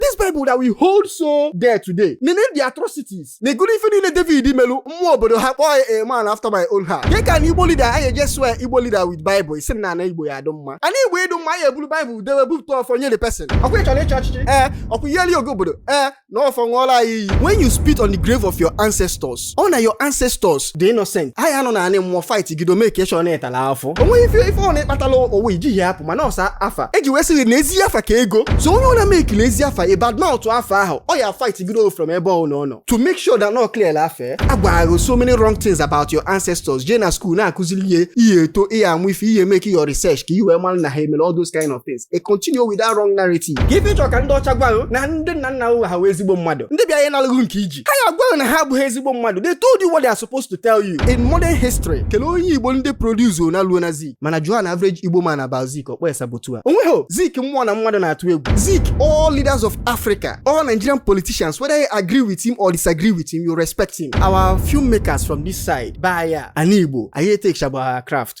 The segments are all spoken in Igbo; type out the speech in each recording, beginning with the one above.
this bible that we hold so dear today nene the atrocities na egolo ife niile david melu mmụọ obodo ha kpọọ ya a man after my own heart nke ka na igbo leader anyị eje swear igbo leader with bible ị sị na ana igbo ya adụ mma ana igbo ịdụ mma anyị eburu bible dewe bupụta ọfọ nye the person ọkwa ị chọrọ ịchị ọchịchị ee ọkwa ị ya-alụ ọgụ obodo ee na ọfọ ṅụọla anyị iyi when you spit on the grave of your ancestors ọ na your ancestors dị innocent ha ya anọ na anị mmụọ fight gido make sure na ị tala afụfụ onweghị ife ife ọ na-akpatala owe ijighị apụ mana ọ sọ afa eji wee sị ghị na ezi afa ka ego so onye ọ na-make na ezi afa ị bad mouth afa ahụ ọ ya fight gido from ebe ọ nọ nọ to make sure that na ọ clear afa ya agwago ghị so many wrong things about your ancestors jee na school na-akụzili ghị ị ya eto ị ya amụ ife ị ya make your research ka i wee mara na ha emere all those kind of things e continue with that wrong narrative ka ife ị chọrọ ka ndị ọcha gwa ghị na ndị nna nna ha wụ ezigbo mmadụ ndị bịa ya analụ ghị nke i ji ha ya agwa ghị na ha abụghị ezigbo mmadụ they told you what they are supposed to tell you in modern history kelee onye igbo ndị produce ona luo na zik mana jụọ an average igbo man about zik ọ kpọọ ya saboteur onweghị zik mmụọ na mmadụ na-atụ egwu zik all leaders of africa all nigerian politicians whether you agree with him or disagree with him you respect him our filmmakers from this side bụ ya ana igbo anyị etekchabụ ha craft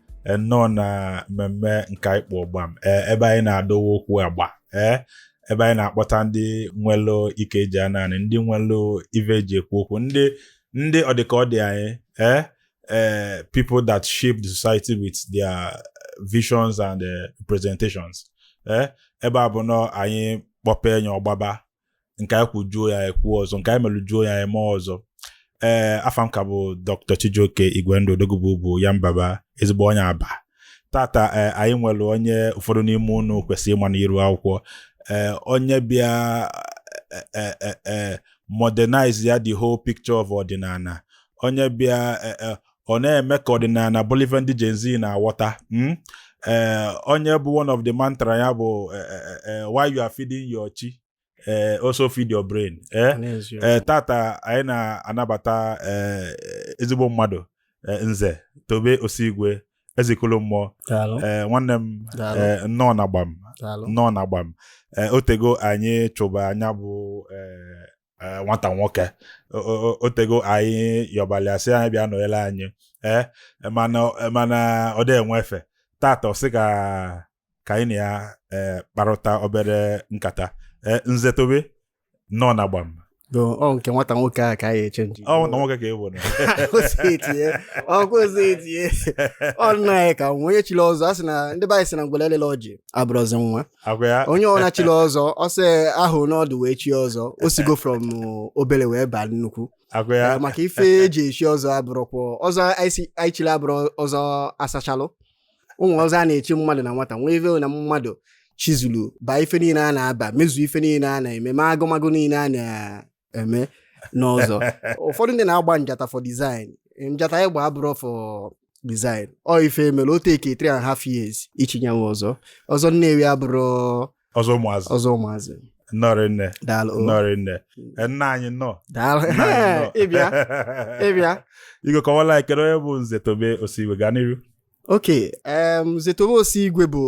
nnọọ na mmemme nke anyị kpọ gbam ee ebe anyị na-adọwa okwu agba ee ebe anyị na-akpọta ndị nwelụ ike eji a naanị ndị nwelụ ive eji ekwu okwu ndị ndị ọdịka ọ dị anyị ee ee people that shape the society with their visions and eh, presentations ee ebe a bụ na anyị kpọpee nye ọgbaba nke anyị kwujuo ya ekwu ọzọ nke anyị melujuo ya eme ọzọ ee eh, afa m ka bụ dr chijioke igwendu odogwu bụ ya mbaba ezigbo onye aba tata eh, anyị nwere onye ụfọdụ n'ime unu kwesịrị ịma n'iru akwụkwọ ee onye bịa modernize ya the whole picture of ọdịnala onye bịa ọ na-eme ka ọdịnala bụrụ ife ndị Gen Z na-aghọta mm? ee onye bụ one of the mantra ya bụ eh, eh, eh, eh, while you are feeding your chi eh, also feed your brain eh? N'eziokwu. ee tata anyị na-anabata ee, ezigbo mmadụ ee, nze tobe osigwe eze ikolo mmụọ Daalụ, ee, nwanne m daalụ, ee, nnọọ na gbam daalụ. nnọọ na gbam ee, otego anyị chụba nya bụ ee, eh, nwata nwoke otego anyị yọbalị ya sị nya bịa nọnyere anyị ee eh, mana ọ dị enwe efe tata ọ sị ka ka anyị na ya eh, kparụta obere nkata nze tobe nnọọ na gbam ọ nke nwata nwoke a ka anyị echenji ọ nwata nwoke ka e nwere ọkụ ozi etinye ọ nna anyị ka nwa onye chiri ọzọ a sị na ndị be anyị sị na ngwele elela ọjị abụrọzi nwa agwa ya onye ọbụla chiri ọzọ ọsọ ahụ n'ọdụ wee chie ọzọ o sigo from obere wee baa nnukwu agwa ya Eh, maka ife eji echi ọzọ abụrụkwọ ọzọ anyị si- anyị chiri abụrụ ọzọ asachalụ o nwee ọzọ a na-echi mmadụ na nwata nwee ife na mmadụ chizulu baa ife niile a na-aba mezuo ife niile a na-eme ma agụmagụ niile a na- eme n'ọzọ ụfọdụ ndị na-agba njata for design njata anyị gba abụrụ for design ọ ife mere o take three and half years ichi ya nwa ọzọ ọzọ nnewi abụrụ ọzọ ụmụazị ọzọ ụmụazị nnọọ rinne daalụ nnọọ rinne E, nna anyị nnọọ daalụ Nna anyị nnọọ. ịbịa ịbịa Igwe kọwala anyị kedu onye bụ Nze Tobe Osigwe gaa n'iru ok um, Nze Tobe Osigwe bụ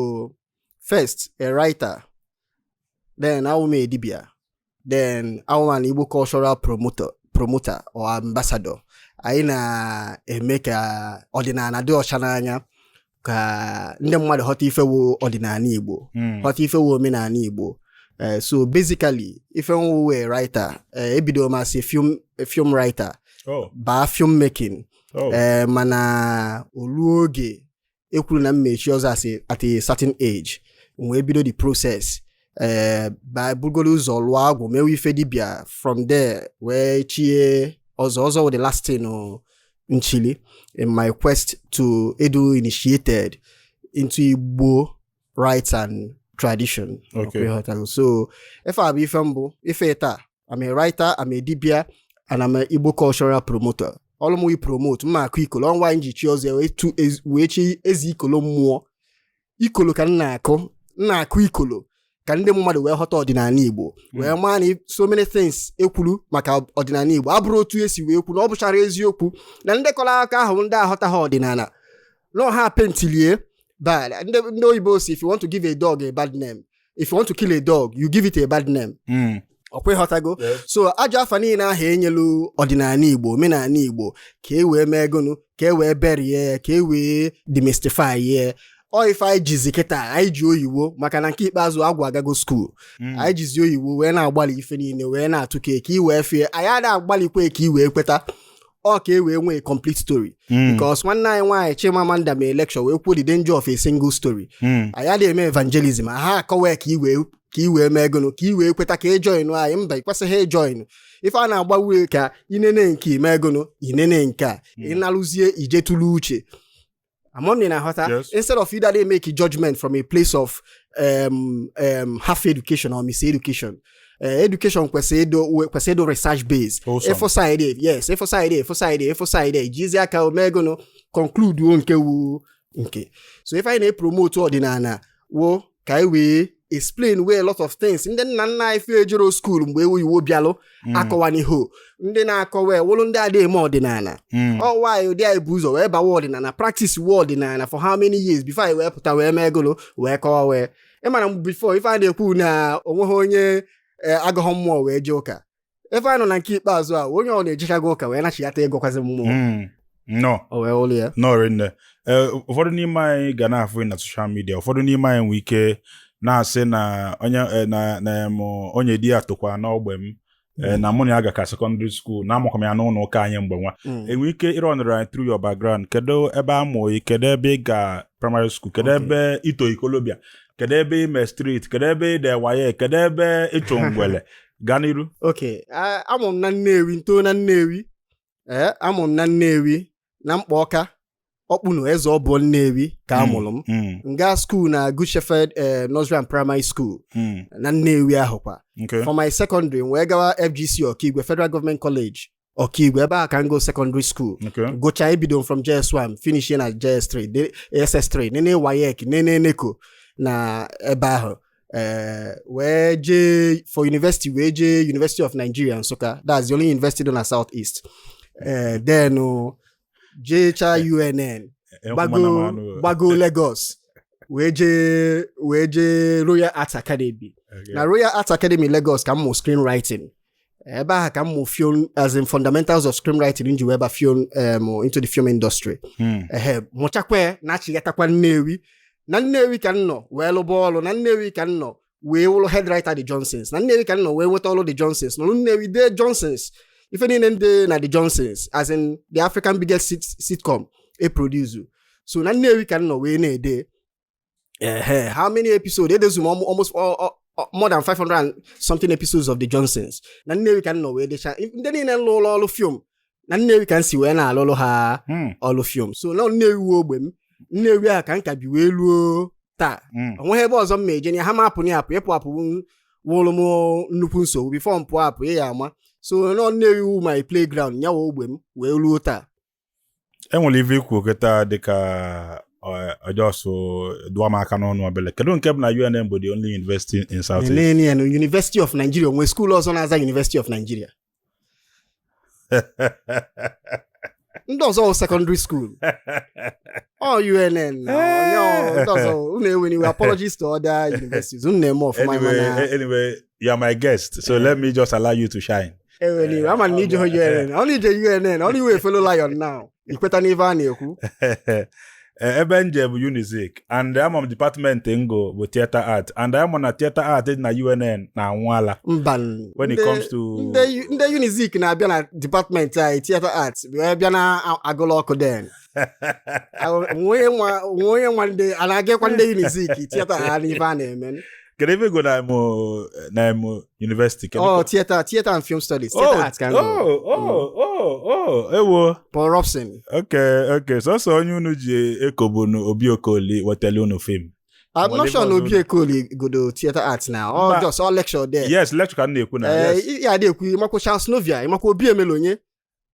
first a writer then awụ m a dibia then awụ m an Igbo cultural promoter, promoter or ambassador. anyị na-eme ka ọdịnala dị ọcha n'anya ka ndị mmadụ ghọta ife wụ ọdịnala Igbo hmm. ghọta ife wụ omenala Igbo eh, so basically ife m wụ wụ writer eh, ebido m as film writer oh. baa film making oh. eh, mana o lu oge ekwuru na m ma-echi ọzọ asị at a certain age m wee bido the process by eh, bugoro ụzọ lụọ agwụ mewe ife dibia from there wee chie ọzọ ọzọ wụ the last thing oh, m chili in my quest to ịdụ initiated into Igbo rites and tradition Okay. ịghọtago so ife a bụ ife m bụ ife taa I'm a writer I'm a dibia and I'm a Igbo cultural promoter ọrụ m wee promote m na-akụ ikolo ọnwa anyị ji chi ọzọ ya wee tu ez- wee chi Eze Ikolo mmụọ ikolo ka m na-akụ m na-akụ ikolo ka ndị mmadụ wee ghọta ọdịnala Igbo wee maa na so many things ekwuru maka ọdịnala Igbo abụrụ otu esi wee kwu na ọ bụchara eziokwu na ndị kọrọ akọ ahụ ndị aghọtaha ọdịnala na ọ ha paintili ye bad ndị ndị oyibo sị if you want to give a dog a bad name if you want to kill a dog you give it a bad name Mm. ọkwa ịghọtago Yes. so ajọ afa niile ahụ enyelu ọdịnala igbo omenala igbo ka e wee mee gụnụ ka e wee bury ya ka e wee demystify ya ọ ife anyị jizi kịta anyị ji oyiwo maka na nke ikpeazụ agwụ agago school Mm. anyị jizi oyiwo wee na-agbalị ife niile wee na-atụ ka eke iwee fie anyị ada agbalịkwa ka i wee kweta ọ ka e wee nwee complete story hmm. because nwanne anyị nwaanyị Chimamanda mee lecture wee kwuo the danger of a single story hmm. anyị ada eme evangelism ha akọwa ka i wee ka i wee mee gụnụ ka i wee kweta ka ị joinụọ anyị mba ịkwesịghị ịjoinụ e ife a na-agba wụ ka i nene nke i mee gụnụ i nene nke a hmm. ị nalụzie i je tụle uche ama m na ị na-aghọta Yes. instead of ị ha-adị emake a judgment from a place of um, um, half education or mis education uh, education kwesịrị ịdị we- kwesịrị ịdị research based Wholesome. ị fụ side yes ị fụ side ị fụ side ị fụ side jizi aka ọ mee gụnụ concludụọ nke wụ nke so ife anyị na-epromote ọdịnala wụ ka anyị wee explain wee a lot of things ndị nna nna anyị fa ejero skuul mgbe oyibo bịalụ mm. akọwanịhọ ndị na-akọwa wụlụ ndị adịghị eme ọdịnala mm. ọ wụ anyị ụdị anyị bụ ụzọ wee bawa ọdịnala practice we ọdịnala for how many years before anyị wee pụta wee mee gụlụ wee kọwa wee ị ma na before ife a na-ekwu na onweghị onye eh, agọghọ mmụọ wee jee ụka ife a nọ na nke ikpeazụ a onye ọ na-ejechago ụka wee nachighata ịgọkwazi mmụọ hmm. nọ o wee ụlọ ya nọrị nne e, ụfọdụ n'ime anyị ga na-afụ na social media ụfọdụ n'ime anyị nwee ike na-asị na onye e, na na onye di ya tokwa n'ogbe m e, hmm. na mụ na ya gakọ secondary school na amụkọ m ya n'ụlọ ụka anyị mgbe nwa hmm. i nwee ike ịrọnụrụ anyị through your background kedu ebe a mụ gị kedu ebe ị ga primary school kedu ebe i to ikolobịa kedu ebe i me street kedu ebe i de WAEC kedu ebe ị chụ ngwele gaa n'iru okay a mụ m na Nnewi ntoo na Nnewi ee a mụ m na Nnewi na mkpa ọka Ọkpụnọ Eze ọbụọ Nnewi ka a mụrụ m mm, mm, nga skuul na Good Shepherd eh, Nursery and Primary School mm. na Nnewi ahụkwa Okay. for my secondary m wee gawa FGC Okigwe Federal Government College Okigwe ebe ahụ ka m gụ secondary school Okay. gụchaa ebido m from js1 finish na js3 de- ss3 nenee WAEC nenee NECO na ebe ahụ eh, wee jee for university wee jee university of nigeria Nsukka that's the only university dị na south east Eh, then oh, jecha unn Enwekwa m gbago anụ, eh. gbago lagos wee jee wee jee royal arts academy Okay. na royal arts academy lagos ka m mụ screenwriting ebe ahụ ka m mụ film as in fundamentals of screenwriting m ji wee ba film um, into the film industry Hmm. ehe mụchakwa nachighatakwa nnewi na nnewi ka m nọ wee lụba ọrụ na nnewi ka m nọ wee wụrụ head writer the johnsons na nnewi ka m nọ wee nweta ọrụ the johnsons nọrụ nnewi dee johnsons ife niile m de na the johnsons as in the african biggest sit sitcom e produce so na nnewi ka m nọ wee na-ede Uh, how many episodes? It is almost all, all, all, more than 500 something episodes of The Johnsons. Na Nnewi ka m nọ wee decha ndị niile m lụlụ ọrụ film na Nnewi ka m si wee na-alụlụ ha hmm. ọrụ film so na Nnewi wụ ogbe m Nnewi a ka m ka bi wee luo taa hmm. onweghị ebe ọzọ m ma eje ha ma apụ na apụ ịpụ apụ wụrụ m nnukwu nsogbu before m pụọ apụ ị ya-ama so na Nnewi wụ my playground nya wụ ogbe m wee ruo taa e nwere ife i kwu kịta dịka ọjọsụ dụọ m aka n'ọnụ obele kedu nke bụ na UNN bụ the only university in South East? UNN University of Nigeria o nwe skuul ọzọ na-aza University of Nigeria ndị ọzọ wụ secondary school ọ UNN na onye ọ- ndị ọzọ unu ewela iwe apologies to other universities unu na-eme ọfụma anyway, mana anyway, you are my guest so let me just allow you to shine anyway ama m na i je unn ọ na i je unn ọ na ị wụ a fellow lion now i kweta n'ife a na-ekwu Eh, ebe m je bụ unizik and ama m department m gụ bụ theatre art and ama m na theatre art dị na unn na-anwụ ala mba n- when it ndị- comes to ndị ndị unizik na-abịa na department anyị theatre art wee bịa na-agụlụ ọkụ then nwee onye nwa ndị a na-agakwa ndị unizik theater art n'ife a na-eme kedu ife ị gụ na imo na imo university oh theater theater and film studies oh, theater oh, arts ka oh oh mm. oh oh ewo Paul Robeson okay okay so so onye unu ji eko bụ na obi okoli wetele unu film I'm not sure na obi okoli gụdu theater arts now or just ọ lecture there yes lecture ka m na-ekwu na eh, yes ya na-ekwu ịmakwa Charles Novia ịmakwa obi Emelonye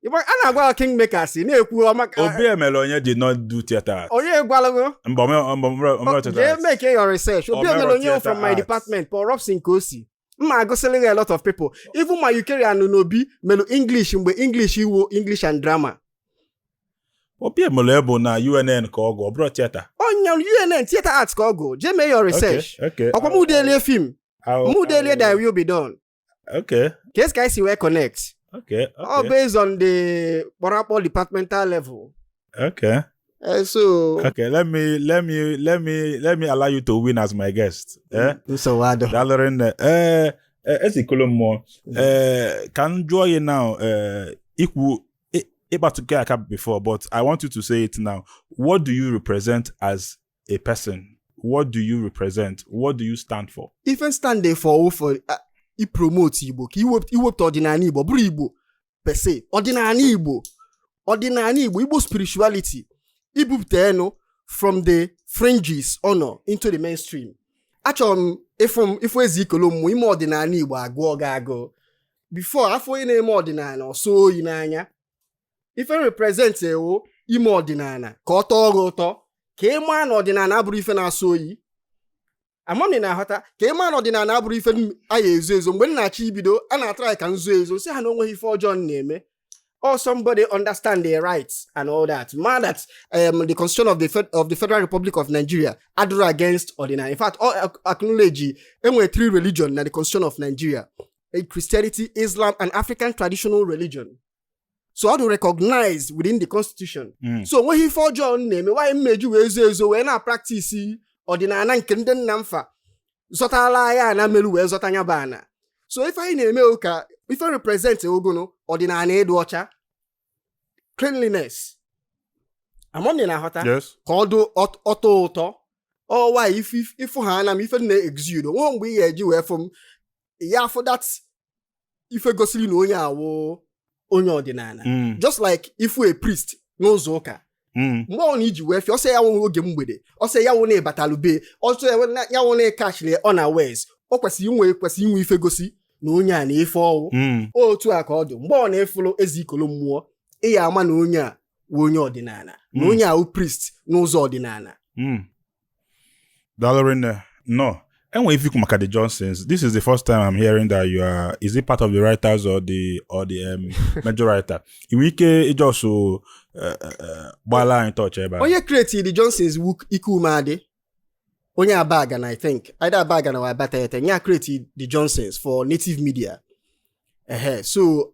Igbo- a na-agwa gị kingmakers ị na-ekwu ọma ka- obi Emelonye did not do theater art onye gwalụ gị mba ome- ome- ome- ome theater jee art. make your research obi o merọ Emelonye theatre from my arts. department paul robeson ka o si m ma-agụsịrị gị a lot of people even ma Eucharia Anunobi melu english mgbe english wụ english and drama obi Emelonye na unn ka ọ gụ ọ bụrọ theater onye unn theatre arts ka ọ gụ jee mee your research Okay, okay. ọkwa m delie film I'll- m delie I'll- Thy Will Be Done Okay. ka e si ka anyị si wee connect Okay. ọ Okay. based on the kpọrakpọ departmental level Okay. Eh, so Okay. Let me let me let me let me allow you to win as my guest. Eh? nsogbu adịrọ Daalụ rinne. Ee, e- Ezeikolomụọ. Ee, ka m jụọ gị now eh, ikwu ị- ị kpatụgo ya aka before but I want you to say it now. What do you represent as a person what do you represent what do you stand for ife m stand for for uh, ipromote igbo ka iwepụta ọdịnala igbo bụrọ igbo per se ọdịnala igbo ọdịnala igbo igbo spirituality ibupụta enu from the fringes ọ nọ into the mainstream achọrọ m ị fụ m ị fụ Ezeikolomụọ ime ọdịnala igbo agụọ gị agụụ before a fụ onye na-eme ọdịnala ọ sọ oyi n'anya ife m represent ewo ime ọdịnala ka ọ tọọ gị ụtọ ka ị maa na ọdịnala abụrọ ife na-asọ oyi ama m ị na-aghọta ka ị maa na ọdịnala abụrọ ife a ya-ezo ezo mgbe m na-achọ ibido a na-atry ka m zuo ezo sị ha na onweghị ife ọjọọ m na-eme or oh, somebody understand their rights and all that. ma that um, the constitution of the Fed, of the Federal Republic of Nigeria adịrọ against ọdịnala. In fact, ọ acknowledge ya e nwe three religion na the constitution of Nigeria: a Christianity, Islam, and African traditional religion. so ọ dị recognized within the constitution mm. so onweghị ife ọjọọ m na-eme why m ma-eji wee zo ezo wee na-apractice ọdịnala nke ndị nna m fa zọtala ya ana meru wee zọta nya bụ ana so ife anyị na-eme ụka ife m represent ọ gụnụ ọdịnala ịdụ ọcha cleanliness ama m ị na-aghọta ka ọ tọọ ụtọ ọ wụ ife ị fụ ha ana m ife m na-exude onwe mgbe ị ga-eji wee fụ m ya afụ that ife gosiri na onye a wụ onye ọdịnala mm. just like ịfụ a priest n'ụzọ ụka Mm. mgbe ọ na i ji wee fụ ya ọsọ ya wụrụ oge mberede ọsọ ya wụ na ị batalu be ya ọsọ ya wụ na ị kachiri ya unawares o kwesịrị inwe ife gosi na onye a na ife ọ wụ mm. otu a ka ọ dị mgbe ọ na ị fụlụ eze ikolo mmụọ ị ya ama na onye a wụ onye ọdịnala na mm. onye a wụ priest n'ụzọ ọdịnala Dalorin, no. And if you come at the Johnsons, this is the first time I'm hearing that you are. Is it part of the writers or the or the um, major writer? In which it also uh, uh, uh, gbala anyị touch ebe a. Onye create the Johnsons ike ume adị. Onye Abaga na I think either Abaga na Abatete. Onye create the Johnsons for native media. Uh-huh. So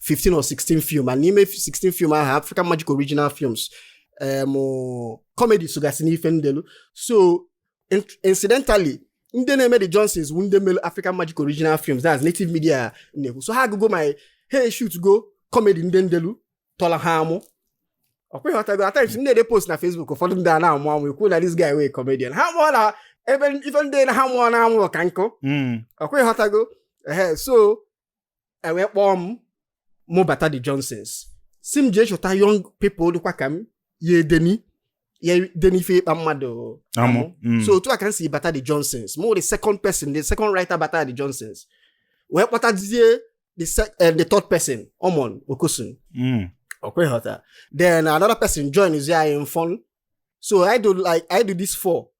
15 or 16 film ma n'ime 16 film ahụ African Magic Original Films em comedy sogasị n'ife m delu so incidentally ndị na-eme the Johnsons wụ ndị mere African Magic Original Films that's native media na-ekwu so ha agụgo my ha eshootgo comedy ndị m delu tọlụ ha amụ ọ kwa ị ghọtago at times m dee post na Facebook ụfọdụ ndị a na-amụ amụ ekwu na this guy wụ comedian ha mụọ na ebe ife ndị na ha mụọ na amụrụ ka nkụ hmm. ọ kwa ị ghọtago ehe so e wee kpọọ m mụ bata the johnsons sị m jee chọta young people dịkwa ka m ya edeni ya edeni ife ịkpa mmadụ amụ mm. so otu a ka m si bata the johnsons m wụ the second person the second writer bata the johnsons wee kpọtazie the, eh, the third person omon okosun mm. ọ kwa ị ghọta then another person join zi anyị Mfon so i do like i do this four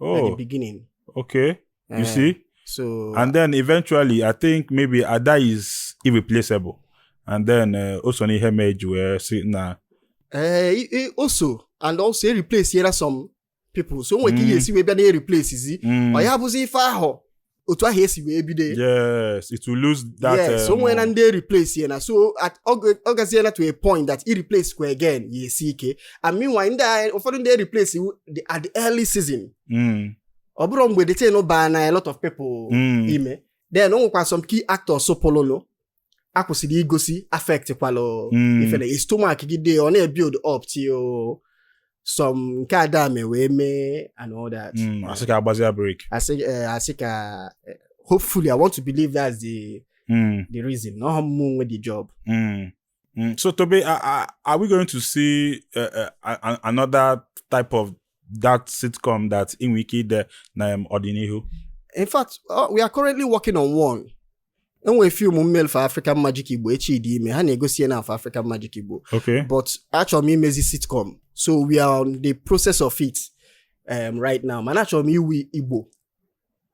oh. at the oh. beginning. Okay. You uh, see? So and then eventually, I think maybe Ada is irreplaceable, and then uh, o so n'ihe mee e ji wee sị na. Uh, o so and also e replace-iela some people so o nwee ihe e si wee bịa na-ereplacezi ọ ya bụzi ife ahụ otu ahụ e si wee bido yes it will lose that yes um, o nweela ndị e replace-iela so ọ gaziela to a point that i replace kwa again ya-esi ike and meanwhile ndị ụfọdụ ndị e replace at the early season mm. ọ bụrọ mgbe the thing baana a lot of people mm. ime then o nwekwa some key actors so pụlụnụ a kwụsịrị igosi affect kwalụ hmm. ife e stomach gide ọ na-ebuild up till some nke Ada mee wee mee and all that hmm, a sị ka a gbazie break a sị eh, ka eh, hopefully i want to believe that's the hmm. the reason na ọ wụhọ mụ nwe the job so tobe are we going to see eh, another type of that sitcom that i nwere ike ide na um, ọdịnihu in fact uh, we are currently working on one e nwere film m melụ for African Magic Igbo echi dị ime ha na-egosi ya now for African Magic Igbo okay but achọrọ m imezi sitcom so we are on the process of it um, right now mana achọrọ m iwu Igbo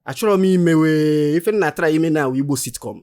achọrọ m imewe ife m na-atry ime now wụ Igbo sitcom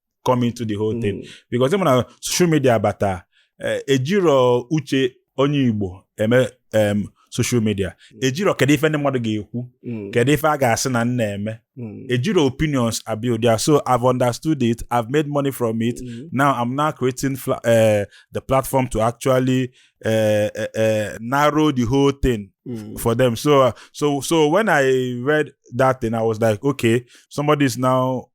come into the whole thing because ị ma na social media bata eh, ejiro uche onye Igbo eme em, social media ejiro kedu ife ndị mmadụ ga-ekwu kedu ife a ga-asị na m na-eme ejiro opinions abuild ya so I've understood it I've made money from it now I'm now creating fla- eh, the platform to actually eh, eh, eh, narrow the whole thing for them. So uh, so so when I read that thing, I was like, okay, somebody is now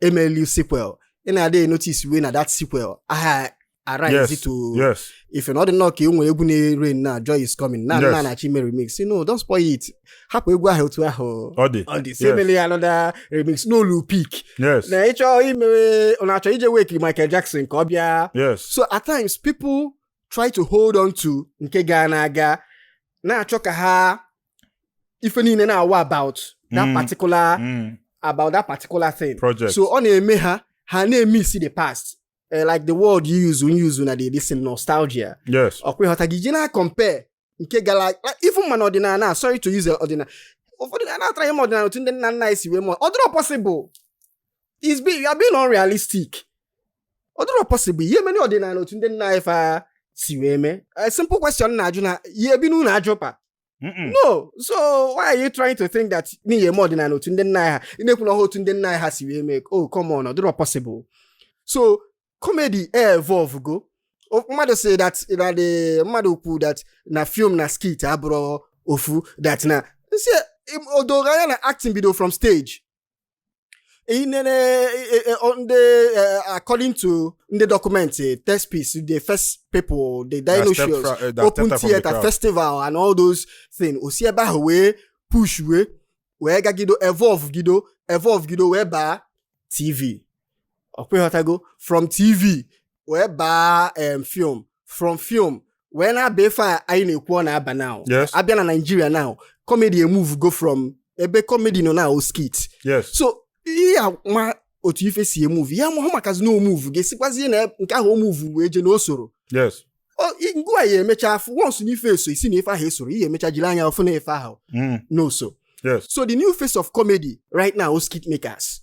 e melu sequel ị na-adị enotice wee na that sequel aha arise yes, to yes. ife na ọ dị nnọọ ka e nwere egwu na-ere na joy is coming na na na-achọ ime remix sị no don't spoil it hapụ egwu ahụ otu ahụ ọ dị sị e mele ya another remix na o lu peak na ị chọ imewe na-achọ ije wake Michael Jackson ka ọ bịa so at times people try to hold on to nke gala aga na-achọ ka ha ife niile na-awụ about that Mm. particular Mm. about that particular thing Project. so ọ na-eme ha ha na-emiss the past Eh, like the word you use you use na the this thing, nostalgia yes ọkwa ị ghọtago ị ji na-acompare nke gara like, even ma n'ọdịnala a, sorry to use ọdịnala ụfọdụ na-atry ime ọdịnala otu ndị nna nna anyị si wee mee ọ dịrọ possible is being you are being unrealistic ọ dịrọ possible ị ya-emeli ọdịnala otu ndị nna anyị fa si wee mee a simple question na-ajụ na ị ya-ebi n'ụlọ aja ụpa Mm-mm. no so why are you trying to think that na ị ya-eme ọdịnala otu ndị nna anyị ha ị na-ekwu na ọha otu ndị nna anyị ha si wee mee oh come on ọ dịrọ possible so comedy evolve go O- mmadụ sị that na the mmadụ kwu that na film na skit abụrọ ofu that na m sị o dogo anya na acting bido from stage inene eh, eh, eh, on the uh, according to the document uh, test piece the first people the dinosaurs uh, open theater the festival and all those things osi ebe ahụ wee push wee wee gagido evolve gido evolve gido wee baa tv ọkwa ị ghọtago from tv wee baa em film from film wee na-aba ife a anyị na-ekwu ọ na-aba now Yes. a bịa na Nigeria now comedy emove go from ebe comedy nọ now skit yes so ị ya-ama otu ife si emove ya mahụ makazi na o move ga-esikwazie na nke ahụ move wee je na o soro yes Ọ- i- ngwa ị ya-emecha afụ once na ife eso ị sị na ife ahụ esoro ị ya-emecha jiri anya afụ na ife ahụ Mm, na o so yes so the new face of comedy right now is skit makers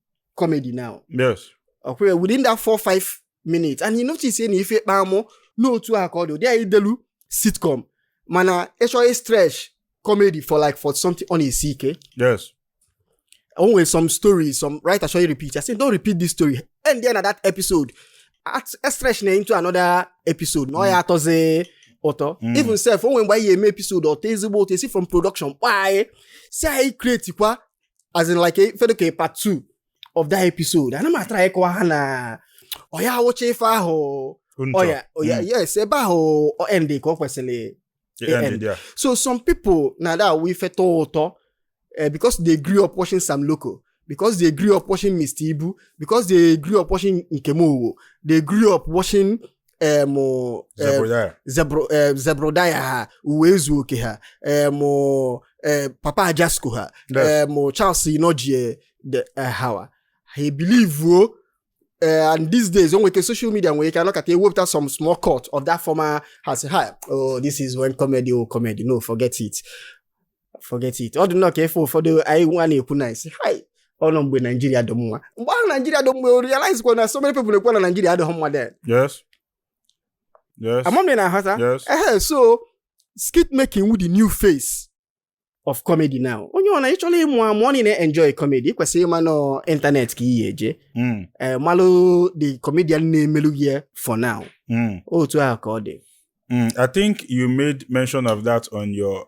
comedy now yes ọkwa within that four five minutes and you notice say na ife ịkpa amụ n'otu a ka ọ dị ụdị anyị delu sitcom mana ị chọọ ịstretch comedy for like for something ọ na-esi ike yes o nwere some story some writer chọọ ịrepeat I say don't repeat this story end there na that episode At- e stretch na into another episode na ọ ya atọzi ụtọ Mm. even sef o nwere mgbe anyị ga-eme episode ọ tọọ ezigbo ụtọ e si from production kpọọ anyị sị anyị create kwa as in like ife dị ka part two of that episode ana m atry ịkọwa ha na ọ ya awụcha ife ahụ ọya ọya hmm. yes ebe ahụ ọ end ka ọ kwesịrị so some people na that awụ ife tọọ ụtọ eh, because they grew up watching Sam Loco because they grew up watching Mr. Ibu because they grew up watching Nkem Owoh they grew up watching em Zebrudaya. zebro em, Zebrudaya ha Uwaezuoke ha em em, papa Ajasco ha Yes. em charles inojie de eh, hawa ha ebilivuo eh, and these days o nwere ike social media nwere ike anọkata ewepụta some small cut of that former ha asị oh this is when comedy wu comedy no forget it forget it ọ dị nnọọ ka ife ụfọdụ anyị nwa na-ekwu na-asị hai ọ nọ mgbe naijiria dị mma mgbe ahụ naijiria dị mma realize kwa na so many people na-ekwu na naijiria adịghị mma then yes yes ama m ị na-ahọta yes ehe so skit making wu the new face of comedy now onye ọ na ị chọrọ ịmụ amụ ọ na enjoy comedy ị kwesịrị ịma na ọ internet ka ị ya-eje Mm, ee malụ the comedian na-emelu gị ya for now mm, otu ahụ ka ọ dị mm. i think you made mention of that on your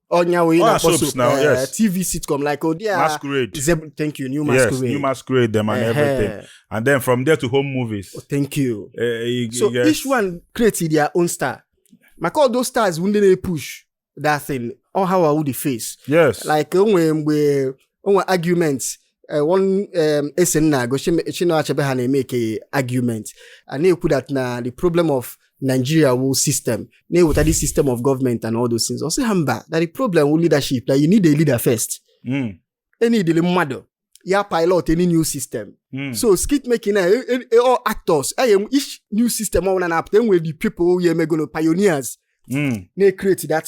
ọnya wee Ọ na-akpọ na-asụ soap soap now, eh, yes. tv sitcom like ụdị a masquerade Zeb- thank you new yes masquerade new masquerade them and Ehe. everything and then from there to home movies Oh, thank you Eh, you- so you get- each one create their own star maka all those stars bụ ndị na-epush that thing all how I would face yes like o nwere mgbe o nwe argument eh, one um, essay m na-agụ Chim- Chinua Achebe ha na-emake argument a na-ekwu that na the problem of Nigeria wu system na ọ wu the system of government and all those things ọ sị ha mba that the problem wu leadership that you need a leader first Mm, e needili mmadụ ya pilot any new system mm. so skit making na e- e- e- all actors e ye-enwe each new system ọbụla na-apụta e nwere the people ya emegolo pioneers Mm, na-ecreate that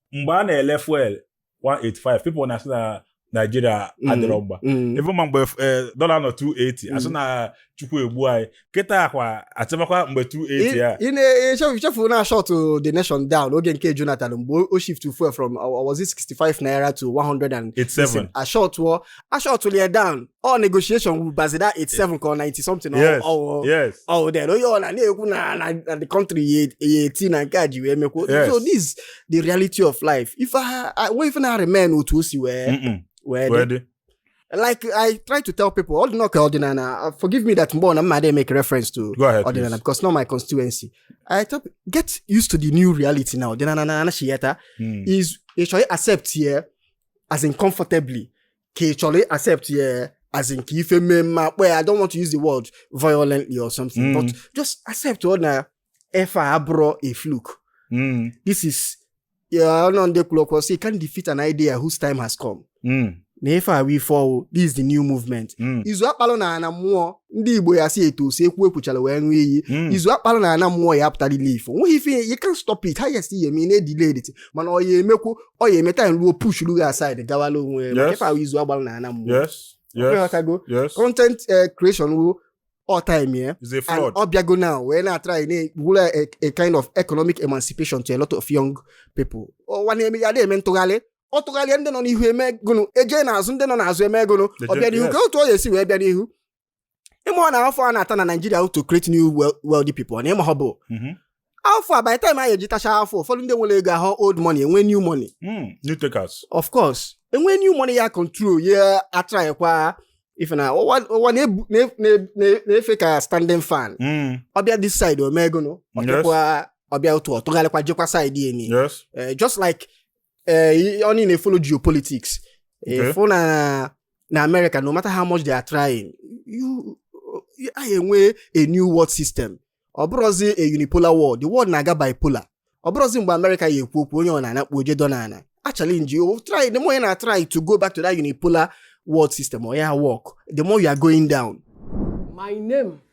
mgbe a na-ele fuel 185 people na-asị na naijiria Mm. adịrọ mgba Mm. even ma mgbe eh, dọla nọ 280 asị na chukwu egbu anyị kịtaa kwa achịbakwa mgbe 280 a Ị- ị na-echefu chefu na a shut the nation down oge nke jonathan mgbe o shift fuel from uh, was it 65 naira to 100 and 87 a shutuo a shuturu ya down ọ negotiation wu bazida 87 ka ọ 90 something ọ- yes ọ- yes oh then onye ọla na-ekwu na na na the country ya ya eti na nke a ji wee mekwo Yes. so this is the reality of life ife ha a- nwe ife na-aremain otu o si wee Mm-mm. wee Wee dị dị. like i try to tell people ọ dị nọ ka ọdịnala uh, forgive me that mgbe ọ na m ma dey make reference to Go ahead, ọdịnala please. because na ọ my constituency i tell people, get used to the new reality now ọdịnala na-anachighata Mm. is ị chọọ accept ya as in comfortably ka ị chọrọ accept ya as in kee ife mee m ma-akpọ ya I don't want to use the word violently or something mm. but just accept ọ na ife a abụrọ a fluke mm. this is ọ nọ ndị kwuru okwu sị you can't defeat an idea whose time has come mm. na ife a wu ife ọfụụ this is the new movement mm. izu a kpalụ n'ana mmụọ ndị igbo ya asị etu esi ekwu ekwuchara wee ṅụọ iyi hmm. izu a kpara n'ana mmụọ ya-apụtalịlị ife o nweghị ife you can't stop it ha ya-esi eme na-edelay it mana ọ ya emekwu ọ ya emeta ruo push ruo aside gawala onwe ya na ife a wu izu a gbara n'ana mmụọ ị ghọtago content eh, creation wu all time yeah is a fraud and ọ bịago now wee na-atry na wula a, a kind of economic emancipation to a lot of young people oh, one eme ya na-eme ntụgharị ọ tụgharịa ndị nọ n'ihu eme gụnụ eje n'azụ ndị nọ n'azụ eme gụnụ ọ bịa n'ihu ka otu ọ ga-esi wee bịa n'ihu ị ma na afụfụ a na-ata na Naijiria to create new wealthy people na ịma ha bụ mm-hmm. afụfụ a by the time anyị eji tachaa afụfụ ụfọdụ ndị nwere ego ahụ old money enwe new money mm, new takers of course enwe new money ya control ya atraịkwa ife na ụwa na-efe ka standing fan hmm. ọ bịa this side o mee gụnụ ọ bịa otu ọ tụgharịkwa jekwa side eni eh, just like eh, onye na-efollow geopolitics ị fụ na na America no matter how much they are trying a ya enwe a new world system ọ bụrọzi a unipolar world the world na-aga bipolar ọ bụrọzi mgbe America ya ekwu okwu onye ọ na-anakpu oje dọ na ana a challenge you try the more you na try to go back to that unipolar world system ọ ya work the more you are going down My name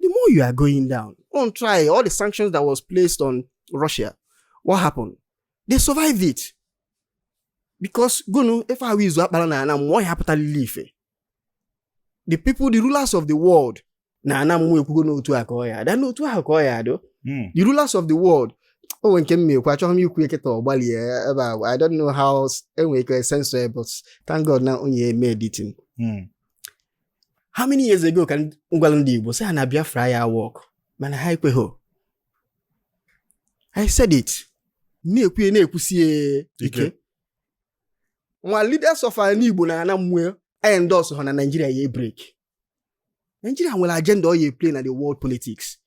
The more you are going down, on try all the sanctions that was placed on Russia. What happened? They survived it. Because gụnụ, if I was up, what happened to The people, the rulers of the world, na ana mmụọ ekwugo na otu a ka ọ ya adụ n'otu ahụ ka ọ ya adụ hmm. the rulers of the world o nwere nke m na-ekwu achọghị m ikwu eketa ọ gbalie ebe a I don't know how enwere ike censor but thank God na onye eme editing hmm. how many years ago ka m gwala ndị Igbo sị ha na Biafra ya work mana ha ekweghị I said it na-ekwu ya na-ekwusie ike nwa leaders of ana Igbo na ana mmụọ endorse họ na Naijiria ya break Naijiria nwere agenda ọ ya play na the world politics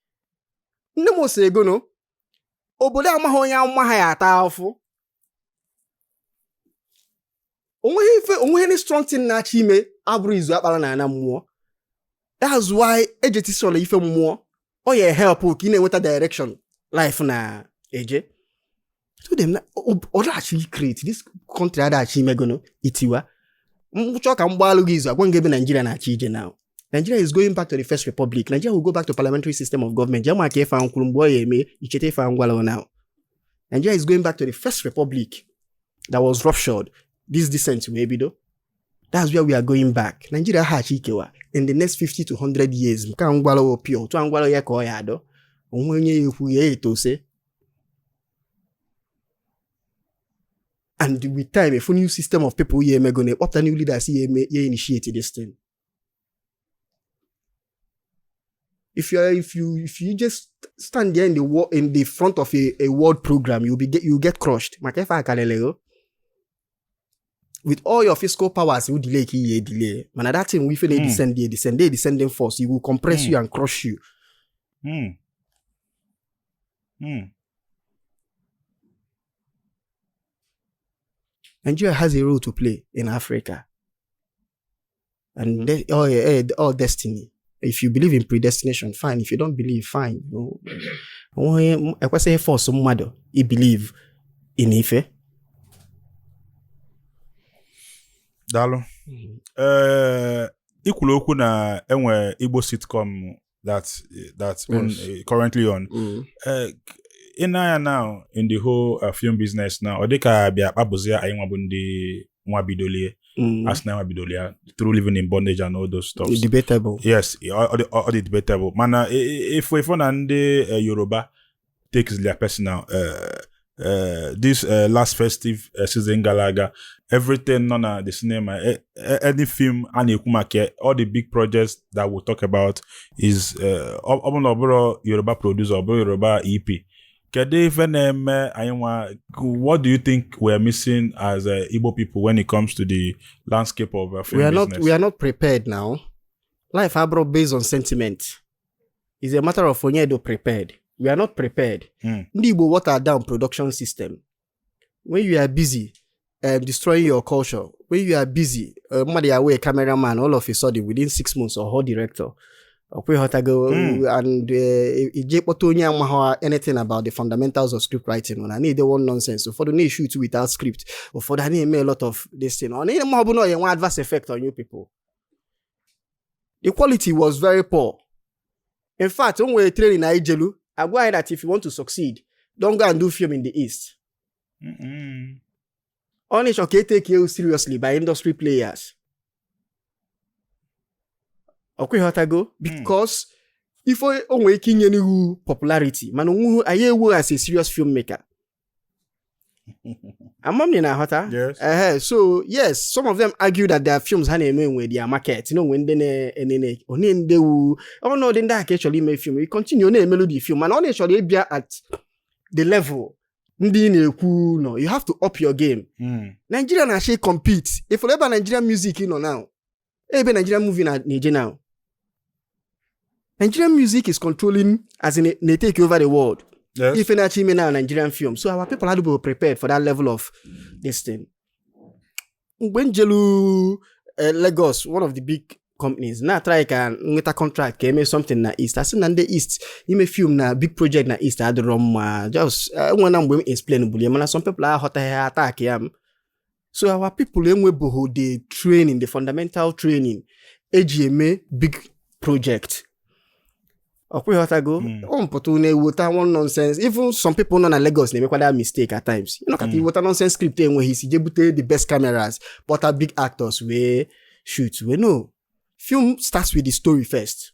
nne m ọ sị gụnụ obodo amaghị onye amụma ha ya ata afụfụ onweghị ife onweghị any strong thing na-achọ ime abụrọ izu a kpara na ana mmụọ that's why e ji eti soro ife mmụọ ọ ya help ka ị na-enweta direction life na-eje ọ daghachi create this country adaghachi ime gụnụ itiwa m chọọ ka m gbaalụ gị izu agwa gị ebe Nigeria na-achọ ije now Nigeria is going back to the first republic Nigeria will go back to parliamentary system of government jee mark ife a m kwuru mgbe ọ ya eme i cheta ife a m gwala now Nigeria is going back to the first republic that was ruptured. This descent wee bido. That's where we are going back. Nigeria hachi ikewa in the next 50 to 100 years. Nke a m gwara opio, otu a m gwara ya ka ọ ya adụ. Onwe onye ya ekwu ya etu ọzọ. And with time, a fụ new system of people ya eme gụnụ akpọpụta new leaders ya eme ya initiate this thing. if you if you if you just stand there in the wall in the front of a, a world program you'll be get, you get crushed maka ife akalelego with all your fiscal powers you delay ki ye delay mana that thing we feel mm. descend dey descend dey descending force you will compress mm. you and crush you mm. Mm. Nigeria has a role to play in Africa. And they, oh, yeah, eh, ọ destiny. If you believe in predestination, fine. If you don't believe, fine. You know, ekwesịghị iforce mmadụ ibelieve na ife. Daalụ. Mm-hmm. Eh, i kwuru okwu na enwe Igbo sitcom that that's on, yes. uh, currently on. Mm. Uh, i nee anya now in the whole uh, film business now ọ dịka bịa kpabụzia anyị nwa bụ ndị nwa bidolie mm. asị na anyị nwa bidolie ya through living in bondage and all those stuff debatable yes ọ dị debatable mana ị fụ ị fụ na ndị uh, yoruba take their personal uh, uh, this uh, last festive uh, season gala aga everything nọ na the cinema a- a- any film a na-ekwu maka ya, all the big projects that we talk about is uh, ọ ọ bụ na ọ bụrọ yoruba producer ọ bụrụ yoruba ep kedu ife na-eme anyị nwa what do you think we are missing as uh, igbo people when it comes to the landscape of uh, film we are not business? we are not prepared now life abụrọ based on sentiment is a matter of onye dị prepared we are not prepared hmm. ndị Igbo water down production system when you are busy um, destroying your culture when you are busy uh, mmadụ ya wee cameraman all of a sudden within six months ọ ghọọ director ọkwa ịghọtago hmm. and uh, i jee kpọta onye amaghị anything about the fundamentals of script writing na na-ede one nonsense ụfọdụ na-eshut without script ụfọdụ a na-eme a lot of this thing ọ na-eme ọ bụla ọ na-enwe adverse effect on you people the quality was very poor in fact o nwere training anyị jelu a gwa anyị that if you want to succeed don't go and do film in the east ọ na ị chọ ka e take you seriously by industry players ọkwa ịghọtago because ife o nwere ike inye n'ihu popularity mana onweghị onye ya-ewe gị as a serious filmmaker ama m na ị na-aghọta Yes. ehe so yes some of them argue that their films ha na-eme nwe their market na onwe ndị na-enene onye ndị wu ọ na ọ bụ ndị a ka ị chọrọ ime film you continue na-emelu the film mana ọ na ị chọrọ ịbịa at the level ndị ị na-ekwu nọ you have to up your game Mm. Nigeria na-achọ ịcompete ifụrụ ebe Nigerian music nọ now ebe Nigerian movie na-eje now Nigerian music is controlling as in they take over the world yes. ife a na-achọ ime na Nigerian film so our people adịbeghị prepared for that level of this thing mgbe m jelu eh, Lagos one of the big companies na-atrai ka m nweta contract ka eme something na east asị na ndị east ime film na big project na east adịrọ mma just eh, enwe na mgbe m explain bulie mana some people aghọtaghị ha attackịa m so our people enwebeghị the training the fundamental training eji eme big project ọkwa ịghọtago hmm. ọ mpụta na-eweta one nonsense even some people nọ na Lagos na-emekwa that mistake at times ị nọkata hmm. iweta nonsense script enweghị isi jee bute the best cameras kpọta big actors wee shoot we know film starts with the story first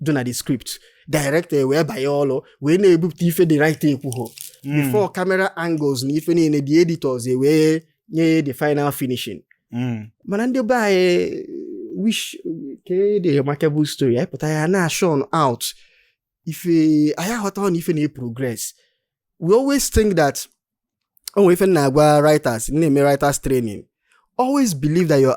dị na the script director e wee banye ọrụ wee na-ebupụta ife the writer ekwuho hmm. before camera angles na ife niile the editors e wee nye the final finishing hmm. mana ndị be anyị wish ke the remarkable story anyị pụta ya na churn out ife anyị aghọta na ife na-progress we always think that o nwe ife na-agwa writers na-eme writers training always believe that your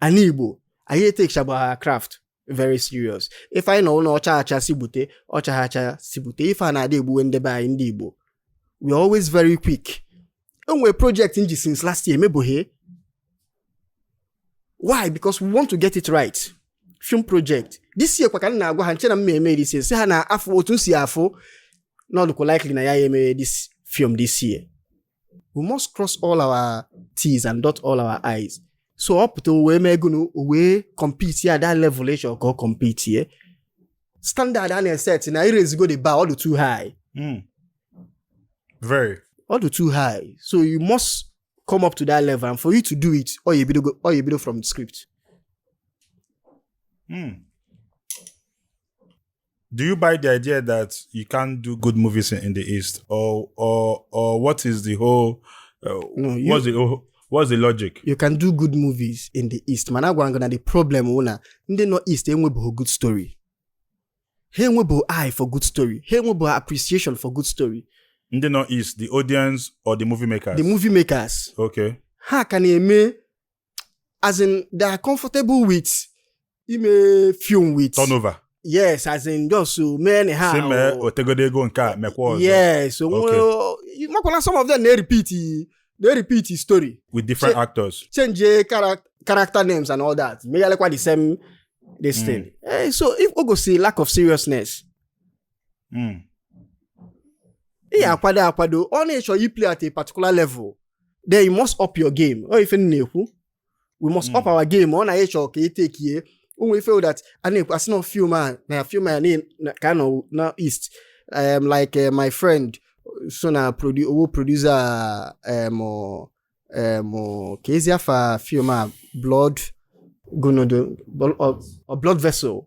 ana igbo anyị etekchabụghị our craft very serious ife anyị na ụlọ ọcha acha si gbute ọcha ha acha si gbute ife a na-adị egbuwe ndị be anyị ndị igbo we are always very quick e nwere project m ji since last year emebụghị why because we want to get it right film project this year kwa ka m na-agwa ha m che na m ma eme this year sị ha na afọ otu m si afụ na ọ dụkwa likely na anyị ya emeghe this film this year we must cross all our T's and dot all our I's so ọ pụta wee mee gono o wee compete ya that level ị chọ ka ọ compete ye standard a na-eset na e raisigo the bar ọ dị too high mm. very ọ dị too high so you must come up to that level and for you to do it ọ ya ebido ọ ya ebido from the script mm. do you buy the idea that you can't do good movies in, in the East, or or or what is the whole? Uh, no, you, what's the whole, what's the logic? You can do good movies in the East. Mana agwa m gị na the problem wụ na ndị nọ East enwebeghị good story. Ha enwebeghị eye for good story. Ha enwebeghị appreciation for good story. Ndị nọ East, the audience or the movie makers? The movie makers. Okay. Ha ka na-eme as in they are comfortable with ime film with turnover yes as in just to mee na ha si mee o- nwetegodo ego nke a mekwa ọzọ yes o Okay. nwere makwala some of them na-repeat na-repeat story with different Che- actors change chara- character names and all that meghalekwa the same this Mm. thing Eh, so ife o gosi lack of seriousness hmm. ị ya akwado akwado ọ na ị chọ iplay at a particular level then you must up your game ọ ife na-ekwu we must up hmm. our game ọ na-echọ ka etekie ụmụ ife that a na-ekwu asị na film a na film a ka nọ na east um, like uh, my friend so na produ ọ wụ producer um, um, kezi afa film a blood gonodo or, or blood vessel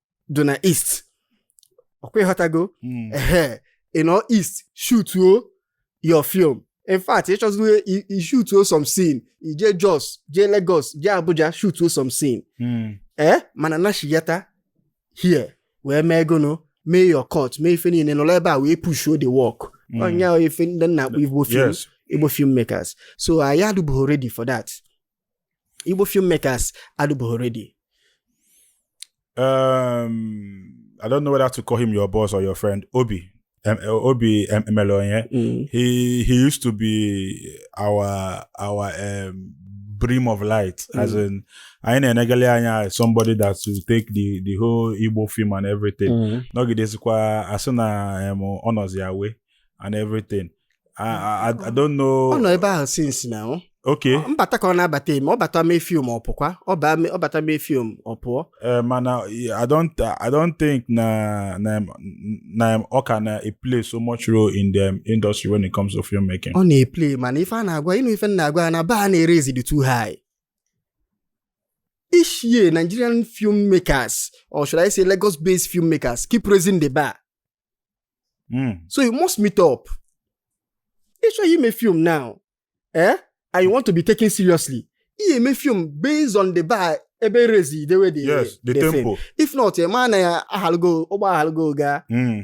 dị na east ọ kwa ị ghọtago Mm. ehe ị nọ east shutuo your film in fact ị chọzị ishutuo some scene i je jos jee lagos jee abuja shutuo some scene Mm. ee mana nachiyata here wee mee gono mee your cut mee ife niile nọrọ ebe a wee pushuo the work Mm. ọ nya ife ndị na-akpọ igbo film Yes. igbo filmmakers so anyị adịbụghị ready for that Igbo filmmakers adịbụghị ready. Um, I don't know whether to call him your boss or your friend, Obi. Um, Obi um, Emelonye. Mm. He he used to be our our um, beam of light, mm. as in anyị na-enegele anya somebody that will take the the whole Igbo film and everything. Mm. Nọgidezikwa asị na um, ọ nọzi away and everything. I, I, I don't know. ọ nọ ebe ahụ since na ọ Okay. mbata ka ọ na-abata eme ọ bata mee film ọ pụkwa ọ baa mee- ọ bata mee film ọ pụọ Eh, mana I don't I don't think na na na ọ ka na-eplay so much role in the industry when it comes to filmmaking. ọ na-eplay mana ife a na-agwa ịnụ ife m na-agwa ya na bar na-eraisezidi too high each year nigerian filmmakers or should i say lagos based filmmakers keep raising the bar Hmm. so you must meet up ị chọọ ime film now eh? and you want to be taken seriously ị eme film based on the bar ebe e raise dewe the, yes, the, the tempo. Film. if not ị ma na ya ahalụgo ụgbọ ahalụgo gaa hmm.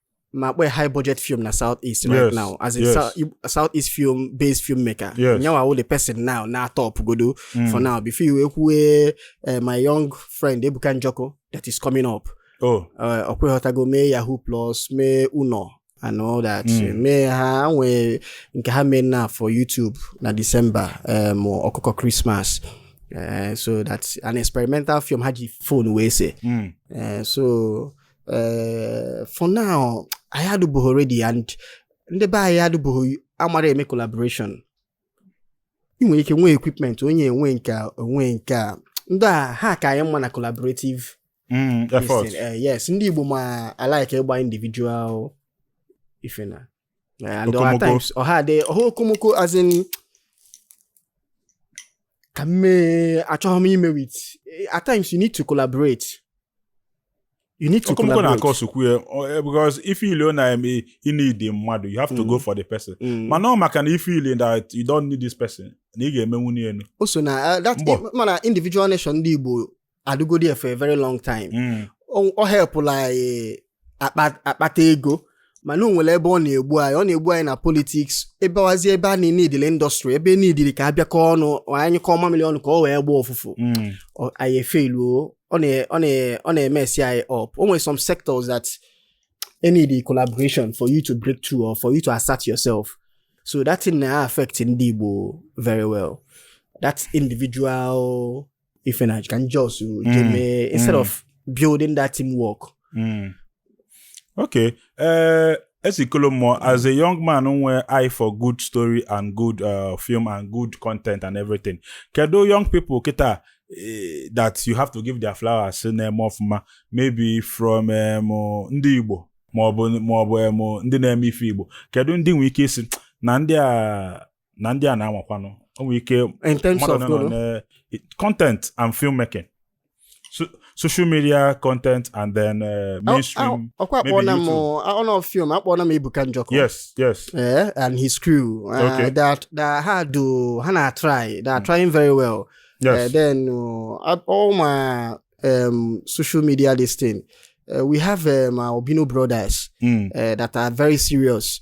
na kpọ high budget film na south east right yes, now as a yes. south, south east film based filmmaker yes. nya wa wụ the person now na-top godu mm. for now before you ekwue uh, eh, my young friend Ebuka Njoku that is coming up oh. uh, ọ kwa ị ghọtago mee yahoo plus mee uno and all that mm. mee ha nwee nke ha mee na for youtube na december um, ọkụkọ christmas uh, so that's an experimental film ha ji phone wee see mm. uh, so eh, for now anyị adụbụghị ready and ndị be anyị adụbụghị amara eme collaboration ị nwere ike nwee equipment onye enwe nke o nwe nke a ndị a ha ka anyị mma na collaborative mm, effort eh, yes ndị Igbo ma alike ịgba individual ife na Yeah, and Okomoko. times Oha they Oha Okomoko as in Kame Achohomi ime with at times you need to collaborate. You need to Okomoko collaborate. na-akọ sukwu ya eh, because if you learn na eme you need the mmadụ you have to mm. go for the person mm. mana ọ maka na if you learn that you don't need this person na ị ga-eme nwunye enu o so na uh, that mana individual nation ndị Igbo adịgodi ya for a very long time Mm. ọ ọ helpụla anyị akpa- akpata ego mana o nwere ebe ọ na-egbu anyị ọ na-egbu anyị na politics ebe wazi ebe a needịlị industry ebe needịrị ka a bịakọ ọnụ anyụkọọ mamịrị ọnụ ka ọ wee gbaa ụfụfụ Mm. ọ- anyị efailuo ọ na- ọ na- ọ na-emess anyị up o nwere some sectors that needị collaboration for you to break through or for you to assert yourself so that thing na-affect ndị Igbo very well that individual ife na ka m just jee Mm, mee instead mm. of building that teamwork Mm. Okay. Uh, Ezeikolomuo, as a young man nwere eye for good story and good uh, film and good content and everything. Kedu young people kịta eh, that you have to give their flowers na-eme ọfụma maybe from um, uh, ndị Igbo ma ọ bụ ma ọ bụ um, ndị na-eme ife Igbo. Kedu ndị i nwere ike ịsị na ndị a na ndị a na-anwakwanụ o nwere ike in terms mmadụ of nọ golo na content and filmmaking so, social media content and then uh, mainstream ọkwa maybe akpọọla m YouTube. ọnọ film akpọọla m Ebuka Njoku yes yes Eh, and his crew uh, Okay. that, that ha dum ha na-atry they are trying very well Uh, yes then uh, at all my um, social media this thing uh, we have um, our Obino brothers mm. uh, that are very serious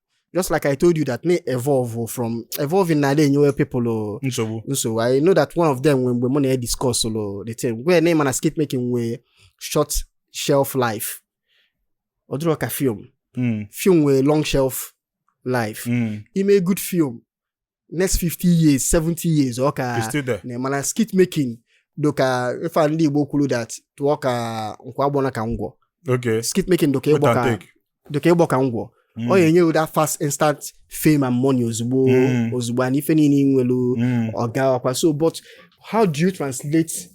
just like I told you that me evolve oh, from evolving na dey enyewe people oh. nsogbu nsogbu I know that one of them when mgbe mụ na ya discuss ụlọ oh, the thing where name mana skit making nwee short shelf life ọ dịrọ ka film hmm. film nwee long shelf life hmm. ime good film next 50 years 70 years ọ ka nọ mana skit making dị ka ife ndị Igbo kwuru that too ka nkwụ agbọna ka ngwọ skit making dị ka ịgbọ ka dị ka ịgbọ ka ngwọ Mm. ọ ga-enye wu that fast instant fame and money ozugbo mm. ozugbo and ife niile nwelu mm. ọga ọkwa so but how do you translate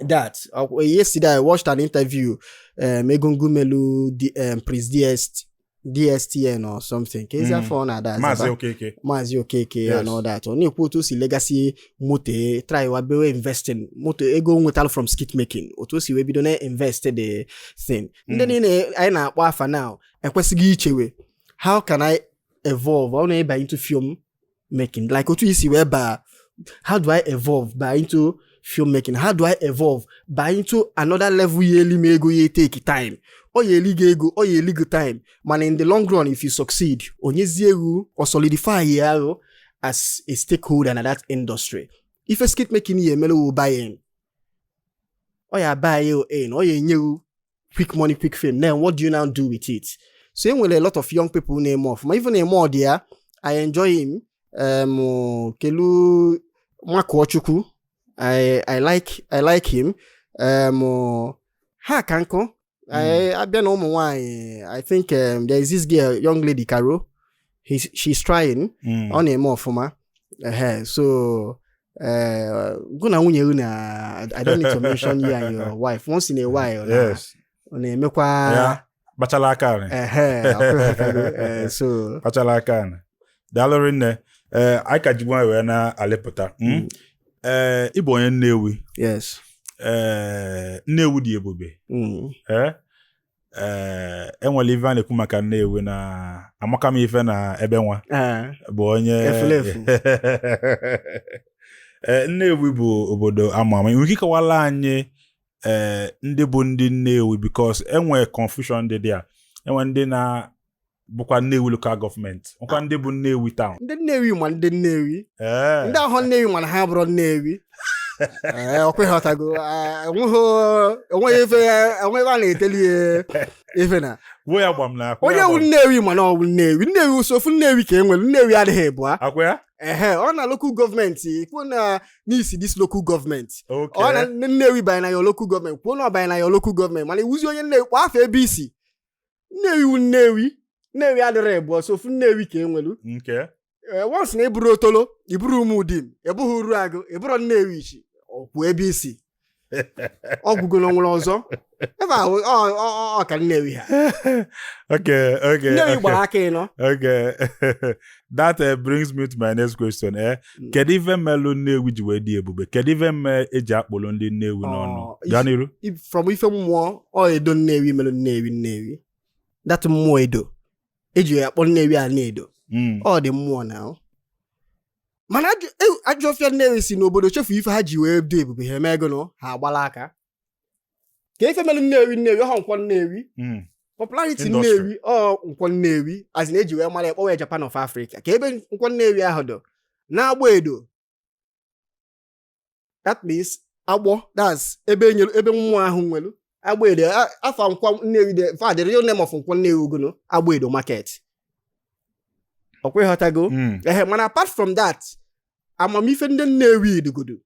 that yesterday i watched an interview um, Egungun melu the um, Prince DST DSTN or something ka ezi afa ọ na-aza bụ Maazị Okeke Maazị Okeke ya Yes. and all that ọ na-ekwu otu o si legasị moto e, try wa bewe investing moto ego o nwetalụ from skit making otu o si wee bido na invest the thing ndị Mm. niile anyị na-akpọ afa now ekwesigo ichewe how can I evolve ọ na-aba into film making like otu i si wee baa how do i evolve baa into film making how do i evolve baa into another level ya eli m ego ya take time ọ ya eli gị ego ọ ya eli gị time mana in the long run if you succeed o nyezie wu ọ solidify ya wu as a stakeholder na that industry ife skit making ya emere wu buy in ọ ya buy in ọ ya enye wu quick money quick fame then what do you now do with it so e nwere a lot of young people na-eme ọfụma even eme ọdị ya i enjoy him um, kelu nwakuochukwu I, I like I like him um, ha ka nkụ I- a bịa na ụmụ nwanyị i think um, there is this girl young lady Caro He's, she's trying Mm. ọ na-eme ọfụma Ehe, so eh, gụ na nwunye gị na I don't need to mention you and your wife once in a while na- yes ọ na-emekwa ya kpachala aka anyị ehe, ọkụ- eh, so kpachala aka anyị daalụ rinne ee anyị ka ji nwayọ wee na-alịpụta Mm. ee ị bụ onye Nnewi yes ee Nnewi dị ebube Mm. ee ee e nwere ife a na-ekwu maka Nnewi na amaka m ife na ebe nwa Ee, bụ onye Efulefu. Ee, Nnewi bụ obodo ama ama ị nwere ike ịkọwala anyị ee ndị bụ ndị Nnewi because enwe confusion dị dị a enwe ndị na bụkwa Nnewi local government nkwa ndị bụ Nnewi town ndị Nnewi ma ndị Nnewi ndị ahụ Nnewi mana ha bụrụ Nnewi eh, ọkwa ịghọtago eh, enweghị ife enweghị a na-eteli ife na onye wu Nnewi mana ọ bụ Nnewi Nnewi ọ sọ ofu Nnewi ka e nwere Nnewi adịghị ịbụa ehe ọ na local government i kwuo na i si this local government ọ na Nnewi banye na ya local government kwuo na ọ banye na ya local government mana i wuzi onye Nnewi kpọọ afa ebe i si nnewi wu nnewi nnewi adịrọ ịbụọ sọ ofu nnewi ka e nwelu okay once na ị bụrụ Otolo ị bụrụ Umudim ị bụrụ Uruagu ị bụrụ Nnewichi okwu ebe i si ọ gwụgo na o nwere ọzọ ebe ahụ ọ- ọ- ọ- ọ ka nnewi ha okay okay nnewi gbara aka ịnọ okay that eh, brings me to my next question eh mm. kedu ife melu Nnewi ji wee dị ebube kedu ife mme eji akpọrọ ndị Nnewi n'ọnụ oh, gaa n'iru from ife mmụọ Edo Nnewi mere Nnewi Nnewi that mmụọ Edo e ji ya akpọ Nnewi Anaedo mm. ọ dị mmụọ na oh. mana ajọ ọfịa Nnewi si n'obodo chefu ife ha ji wee dị ebube ha eme ego na ha agbala aka ka ife melu nnewi nnewi ọha nkwọ nnewi hmm. popularity nnewi ọ nkwọ nnewi as in e ji wee mara ya kpọwa Japan of Africa ka ebe nkwọ nnewi ahụ dọ n'Agbọ Edo that means agbọ that's ebe e ebe mmụọ ahụ nwelu Agbọ Edo afa nkwọ nnewi de fa the real name of nkwọ nnewi ọ gọnọ Agbọ Edo market ọkwa ịghọtago hmm. ehe mana apart from that amamife ndị nnewi dugodo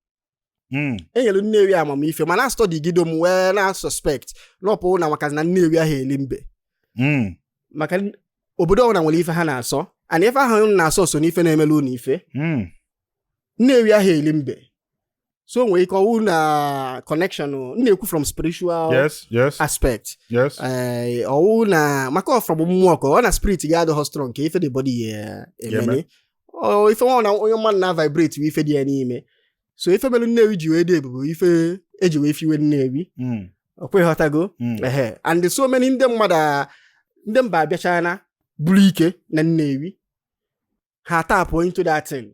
hmm. e nyelu Nnewi amamife mana a study gido m wee na-suspect na ọ wụ na maka na Nnewi ahụ eli mbe hmm. maka obodo ọbụla nwere ife ha na-asọ and ife ahụ na-asọ so n'ife na-emelu unu ife hmm. Nnewi ahụ eli mbe so nwere ike ọ wụ na connection na-ekwu from spiritual yes, yes, aspect yes. Eh, ọ wụ na maka from mmụọ ka ọ na spirit gị adịghị strong ka ife the body ya eh, emeni ife nwa na onye mmadụ na-vibrate bụ ife dị ya n'ime so ife mere nnewi ji wee dị ebube ife eji wee fiwe nnewi hmm. ọkwa ịghọtago hmm. ehe and so many ndị mmadụ ndị mba abịachana buru ike na nnewi ha tap into that thing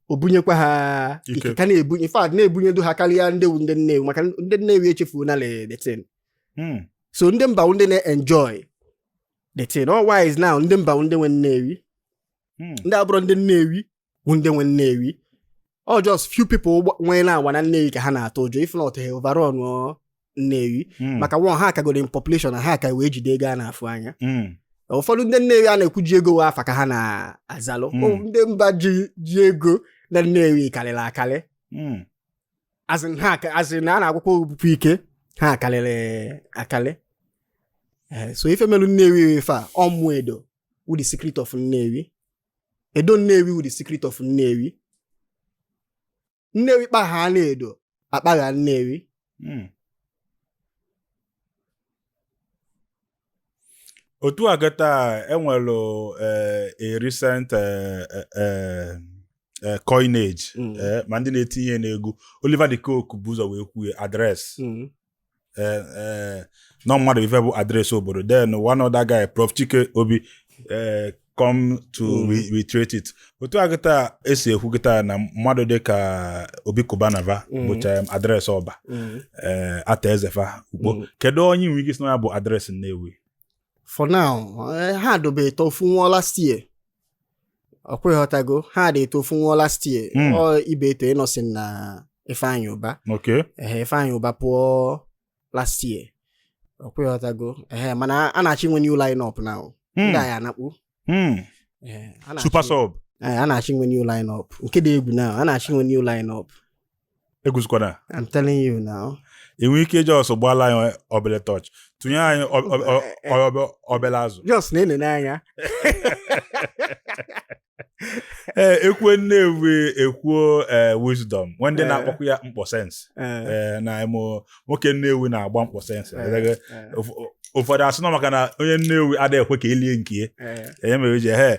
o bunyekwa ha ike ka na-ebunye in fact na-ebunyedu ha karịa ndị wu ndị nnewi maka ndị nnewi echefuona the thing hmm. so ndị mba ndị na-enjoy the thing otherwise now ndị mba ndị nwe nnewi hmm. ndị abụrọ ndị Nnewi bụ ndị nwe Nnewi ọ just few people nwee na-agba na Nnewi ka ha na-atụ ụjọ if not ha overrun Nnewi hmm. maka one ha kagoro in population na ha ka wee jide ego a na-afụ anya hmm. ụfọdụ ndị Nnewi a na-ekwu ji ego wee afa ka ha na-azalụ ndị mba ji ego na Nnewi karịrị akarị a sị na a na-agwụkwa obupụ ike ha akarịrị akarị eh, so ife melu Nnewi ife a ọ wụ Edo wụ the secret of Nnewi Edo Nnewi wụ the secret of Nnewi Nnewi kpagha na Edo akpagha Nnewi hmm. otu a kịta e nwere eh, a recent eh, eh, Eh, coinage mm. eh, ma ndị na-etinye n'egwu Oliver de Coque bụ ụzọ wee kwuo address mm. eh, eh, na ọ mmadụ ife bụ address obodo then one other guy Prof Chikobi eh, come to Mm. re- reiterate it otu a kịta e si ekwu kịta na mmadụ dị ka Obi Cubana va Mm. bụcha em, address Ọba Mm. eh, Arthur Eze fa Ukpo Mm. kedu onye nwere ike ịsị na ya bụ address Nnewi for now eh, ha dịbu etọ ofu nwụọ last year ọkwa ịghọtago ha dị etọ ofu nwụọ last year Mm. ọ Ibeto Innoson na Ifeanyị Ụba Okay. ehe Ifeanyị Ụba pụọ last year ọkwa ịghọtago ehe mana a na-achọ inwe new line up now Mm. ndị a ya-anakpu Mm. Ehe, a na-achọ- Super sub. Ee, a na-achọ inwe new line up nke dị egwu now a na-achọ inwe new line up egwuzikwana I'm telling you now. ị nwe ike just gbaala anyị obele torch tụnye anyị ọ- ọ- ọ- ọ- ọ- obele azụ Just na-enene anya. ee e kwuo Nnewi e kwuo ee wisdom nwe ndị Eh. na-akpọkwa ya mkpọ sense Eh, ee na ụmụ nwoke Nnewi na-agba mkpọ sense eh, eh, Ụf- ụfọdụ asị na ọ maka na onye Nnewi adịghị ekwe ka elie nke ya eh. enye mere ji ehe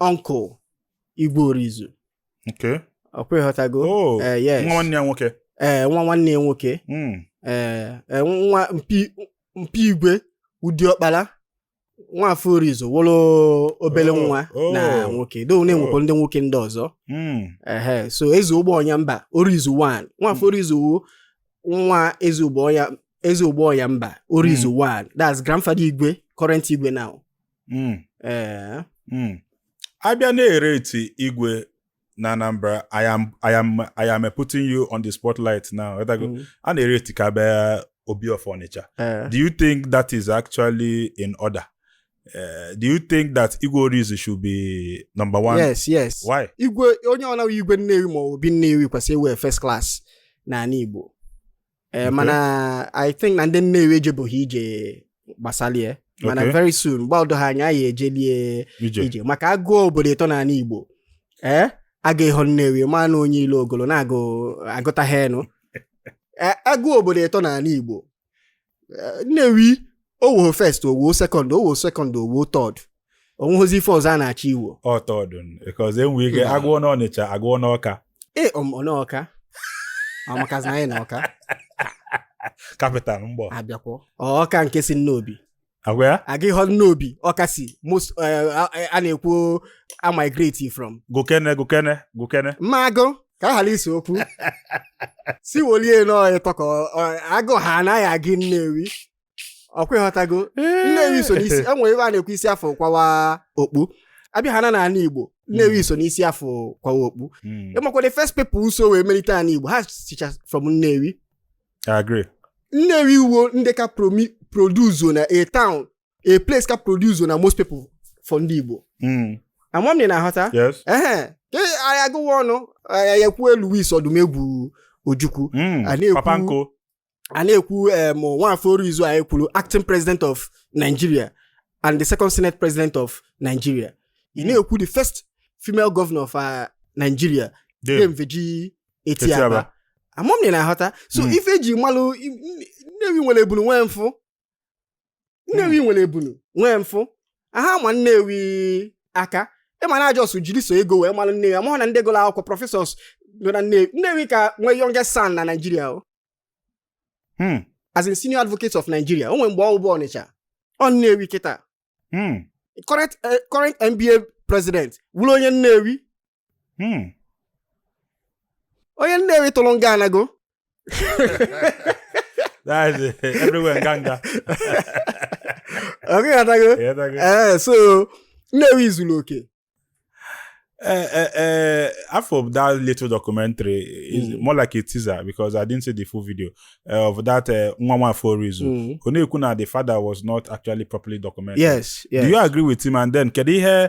uncle Igwe Orizu okay ọkwa ịghọtago oh Eh, yes. nwa nwanne ya nwoke ee nwa nwanne ya nwoke Mm. ee ee, nwa mpa mpa Igwe wụ diọkpara Nwafọ Orizu wụrụ obele Oh, nwa oh. na nwoke do na-enwekwa ndị nwoke ndị ọzọ Mm. ehe so Eze Ugbọnyamba Orizu 1 Nwafọ Orizu wụ nwa Eze Ugbọnya Eze Ugbọnyamba Orizu 1 that's grandfather igwe current igwe now Hmm. ee hmm. a bịa na-ereti igwe na Anambra I am I am I am putting you on the spotlight now hmm. a na-ereti ka bịa Obi of Onitsha do you think that is actually in order Uh, do you think that Igwe Orizu should be number one? Yes, yes. Why? Igwe onye ọna wụ Igwe Nnewi ma Obi Nnewi kwesịrị ịwụ first class n'ana Igbo. ee mana i think na ndị nnewi ejebụghị ije gbasalị ya mana Okay. very soon gbado ha anya anyị ejelie ije maka agụọ obodo ịtọ n'ana igbo ee aga ịhụ nnewi ma na onye ilo ogolo na-agụ agụta ha enu Ee, agụọ obodo ịtọ n'ana igbo Ee, nnewi ọ wụọ first ọ wụọ second ọ wụọ second ọ wụọ third onweghịzi ife ọzọ a na-achọ ịwụ third because enwere ike hmm. agụọ n'ọnịcha agụọ n'ọka ee um, ọ n'ọka amakazi anyị na ọka capital mgbọ abịakwọ ọka nke si nnobi agwa ya aga ịhụ nnobi ọka si most eh, a na-ekwu a migrate from gokene gokene gokene mma agụ ka a ghara isi okwu si wolie n'onye ịtọ ka agụ ha anaghị agị nnewi ọkwa ịghọtago nnewi so n'isi e nwere ebe a na-ekwu isi a fụ kwawa okpu abịa ha na ana igbo nnewi hmm. so n'isi a fụ kwawa okpu hmm. ịmakwa the first people so wee melite ana igbo ha sicha from nnewi nnewi wụ ndị ka produce na a town a place ka produce na most people for ndị igbo hmm. ama m na ị na-aghọta ehe ka anyị gụwa ọnụ anyị ekwuo louis odumegwu ojukwu a na-ekwu a na-ekwu em nwafọ orizu anyị kwuru acting president of nigeria and the second senate president of nigeria ị na-ekwu the first female governor of uh, nigeria Dame. dame virgy Etiaba. etiaba ama m na ị na-aghọta so Mm. ife eji malụ i- nnewi nwere ebunu nwee mfụ nnewi nwere ebunu nwee mfụ aha ma nnewi aka ịma na a just jiri sọ ego wee mara nnewi amahụ na ndị gụrụ akwụkwọ professors nọ na nnewi nnewi ka nwee youngest san na nigeria o Hmm. as in senior advocate of nigeria o nwere mgbe ọ bụ ọnịcha ọ nnewi kịta Hmm. current eh, current nba president wụrụ onye nnewi hmm. onye nnewi tụrụ nga anago ọkwa ịghọtago ee eh, so nnewi zuru oke eh, eh, half of that little documentary is hmm. more like a teaser because I didn't see the full video of that nwa nwafọ orizu hmm. ọ na-ekwu na the father was not actually properly documented. Yes, yes. Do you agree with him? And then kedu ihe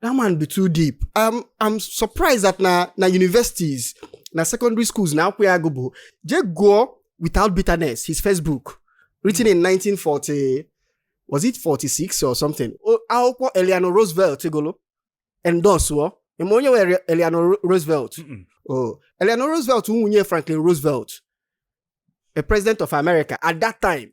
that man be too deep um, i'm surprised that na na universities na secondary schools na akwụkwọ ya agụ bụ je gụọ without bitterness his first book written in 1940 was it 46 or something O- akwụkwọ eleanor roosevelt gụlụ endorsuo ịma onye wụ eleanor Ro- roosevelt Mm-mm. oh eleanor roosevelt nwunye franklin roosevelt a president of america at that time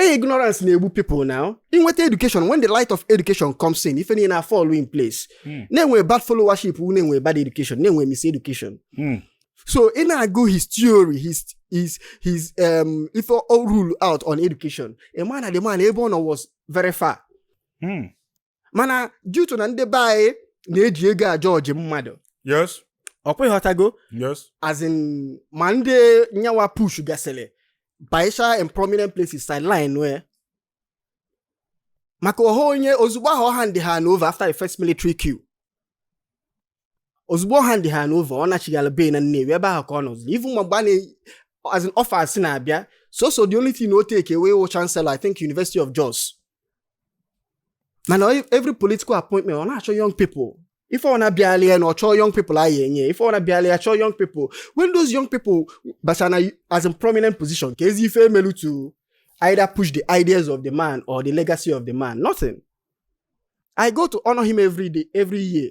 Hey, ignorance na-egbu people now. Inweta education, when the light of education comes in, ife niile na-fall in place. Mm. Na-enwe bad followership, na-enwe bad education, na-enwe miseducation. Mm. So ị na-agụ his theory, his his his um ife ọ roll out on education. Ị ma na the man ebe ọ nọ was very far. Mm. mana due to na ndị be anyị na-eji ego ajudge mmadụ yes ọ kwa ị ghọtago yes as in ma ndị nya nwa push gasịrị baisha in prominent places sideline wee maka ọ wụ onye ozugbo ahụ ọ handị hand over after the first military coup ozugbo ọ handị hand over ọ nachigala be ya na Nnewi ebe ahụ ka ọ nọzi even ma mgbe a na as in offers na-abịa sọsọ the only thing o take away wụ chancellor I think University of Jos mana every political appointment ọ na-achọ young people ife ọ wụna bịala ya na ọ chọọ young people anyị enye ife ọ wụna bịala ya chọọ young people when those young people basa na as in prominent position kezi ife e melu to either push the ideas of the man or the legacy of the man nothing I go to honor him every day every year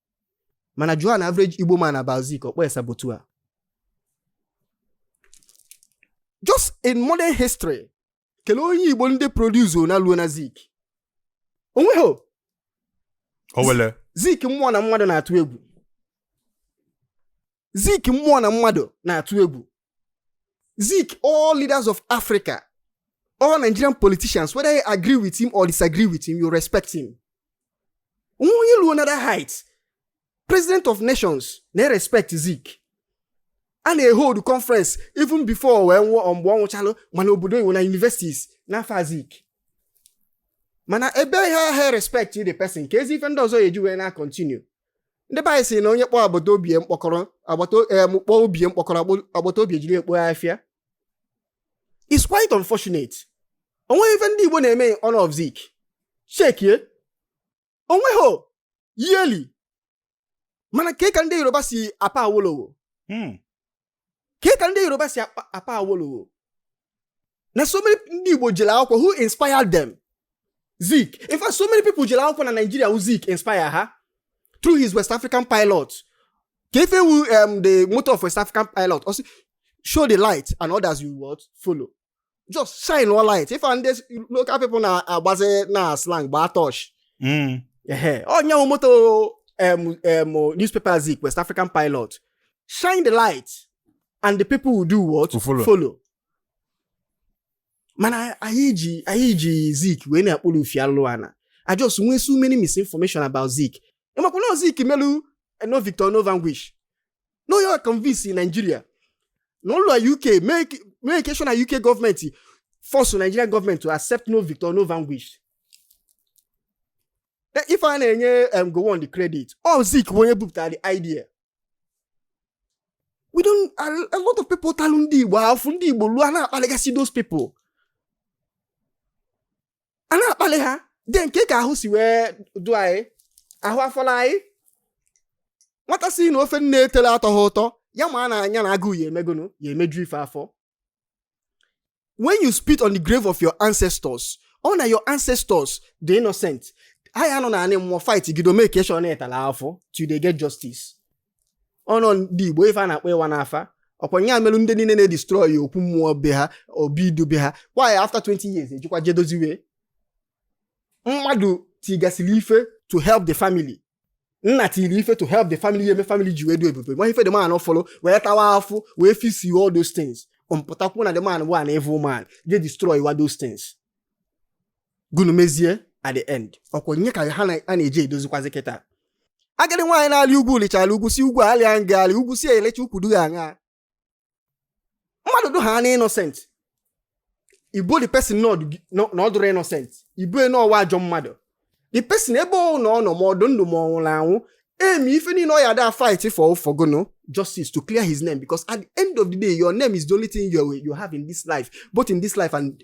mana jụọ an average igbo man about zik ọ kpọọ ya saboteur just in modern history kelee onye igbo ndị produce na luo na zik o nweghị owelle zik mmụọ na mmadụ na-atụ egwu zik mmụọ na mmadụ na-atụ egwu Zik all leaders of Africa all Nigerian politicians whether you agree with him or disagree with him you respect him nwa onye luo another height president of nations na-erespect Zik a na-ehold conference even before o wee nwụọ mgbe ọ nwụchalụ ma n'obodo oyibo na universities n'afa Zik mana ebe a ha respect the person kezi ife ndị ọzọ ya-eji wee na-continue ndị be anyị sị na onye kpọọ agbata obi mkpọkọrọ agbata em kpọọ obi mkpọkọrọ agbo- agbata obi ejiri ekpo ya afịa it's quite unfortunate o nweghị ife ndị igbo na-eme in honor of zik chekie o nweghị yearly mana ke ka ndị yoruba si apa awolowo Hmm. ke ka ndị yoruba si apa awolowo na so many ndị igbo jere akwụkwọ who inspired them zik in fact so many people jere akwụkwọ na nigeria who zik inspire ha through his west african pilot ke ife wụ um, the motto of west african pilot also show the light and others do what follow just shine all light ife ndị local people na-agbazi na slang gbaa torch hmm. ọ nya wụ motto newspaper zik West African pilot shine the light and the people will do what follow mana anyị ji anyị ji zik wee na-akpụrụ ufi alụ ana a just nwee so many misinformation about zik ị makwa na zik melu eh, no Victor no Vanquish na ọ ya convince Nigeria na ọ lua UK make sure na UK government force Nigerian government to accept no victor no vanquish e, ife a na-enye um, Gowon the credit ọ Zik onye bupụtara the idea ọ dụ a lot of people talụ ndị Igbo afụ ndị Igbo lua ana legacy those people a na-akpali ha then kee ka ahụ si wee dụ anyị ahụ afọla anyị nwata sị na ofe nne etele atọha ụtọ ya ma na anya na agụụ ya eme gụnụ ya emeju ife afọ when you spit on the grave of your ancestors ọ na your ancestors dị innocent ha ya anọ na anị mmụọ fight gido make sure na ị tala afụ till they get justice ọnụ ndị Igbo ife a na-akpọ ịwa n'afa ọkwa ya emelụ ndị niile na-edestroy okwu mmụọ be ha obi idu be ha kwa ya after 20 years ejekwa jee doziwe mmadụ tigasịrị ife to help the family nna tiri ife to help the family ya eme family ji wee du ebube ma ife the man follow wee tawa afụ wee fix all those things pụtakwu na the man bụ an evil man je destroy wa those things gụnụ mezie at the end ọkwa ya ka ha na-eje edozikwazi kịta agadi nwaanyị na-alị ugwu lịchara ugwu sị ugwu alịa m gị alị ugwu sị elecha ukwu dụ ghị aṅaa mmadụ dụ ha na innocent i bo the person na ọ dụrọ innocent i bo n'ọ wụ ajọ mmadụ the person ebe ọ na ọ nọ ma ọ dụ ndụ ma ọ nwụrụ anwụ eme ife niile ọ ya da fight for gụnụ justice to clear his name because at the end of the day your name is the only thing you, you have in this life both in this life and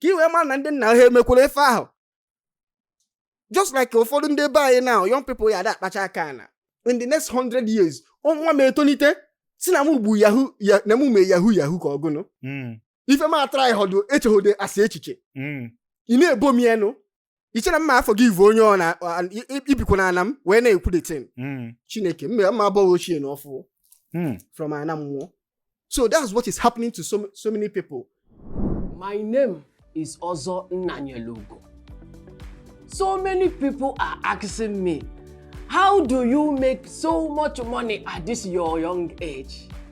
ka i wee ma na ndị nna ha emekwara ife ahụ just like ụfọdụ ndị be anyị na young people ya ada akpacha aka na in the next 100 years nwa m etonite sị nna m gbu Yahoo nna m mee Yahoo Yahoo ka ọ gụnụ hmm. ife m atara ịhọdụ echeghode asị echiche hmm. ị na-ebo m enu i chere m ma forgive onye ọ na a- i- i- i bikwa na ana m wee na-ekwu the thing Mm. Chineke m ma m ma abọ ghị ochie na ọfụ Mm. from ana mmụọ so that's what is happening to so, so many people My name is Ọzọ Nnanyelugo. So many people are asking me, how do you make so much money at this your young age?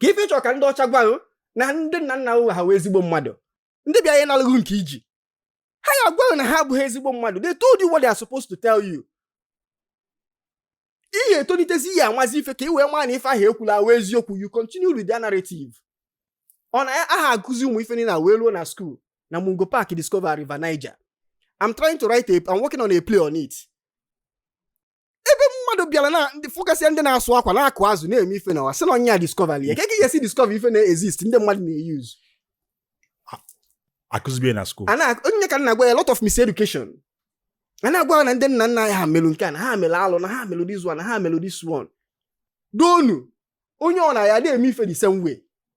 ka ife ị chọ ka ndị ọcha gwa ghị na ndị nna nna ghị ha wụ ezigbo mmadụ ndị bịa ịnalụ ghị nke i ji ha ya agwa ghị na ha abụghị ezigbo mmadụ they told you what they are supposed to tell you ị ya etonitezi ị ya amazi ife ka ị wee maa na ife ahụ e kwulu awa eziokwu you continue with their narrative ọ na aha akụzi ụmụ ife niile wee luo na school na Mungo Park discover River Niger I'm trying to write a I'm working on a play on it ebe mmadụ bịara na ndị fụgasịa ndị na-asụ akwa na-akụ azụ na-eme ife n'ụwa sị na onye a discover ya ka ị ga-esi discover ife na-exist ndị mmadụ na-euse akụzibie na school a na- onye ka a na-agwa a lot of miseducation a na-agwa ya na ndị nna nna ha melụ nke a na ha melụ alụ na ha melụ this one na ha melụ this one donu onye ọ na ya na-eme ife the same way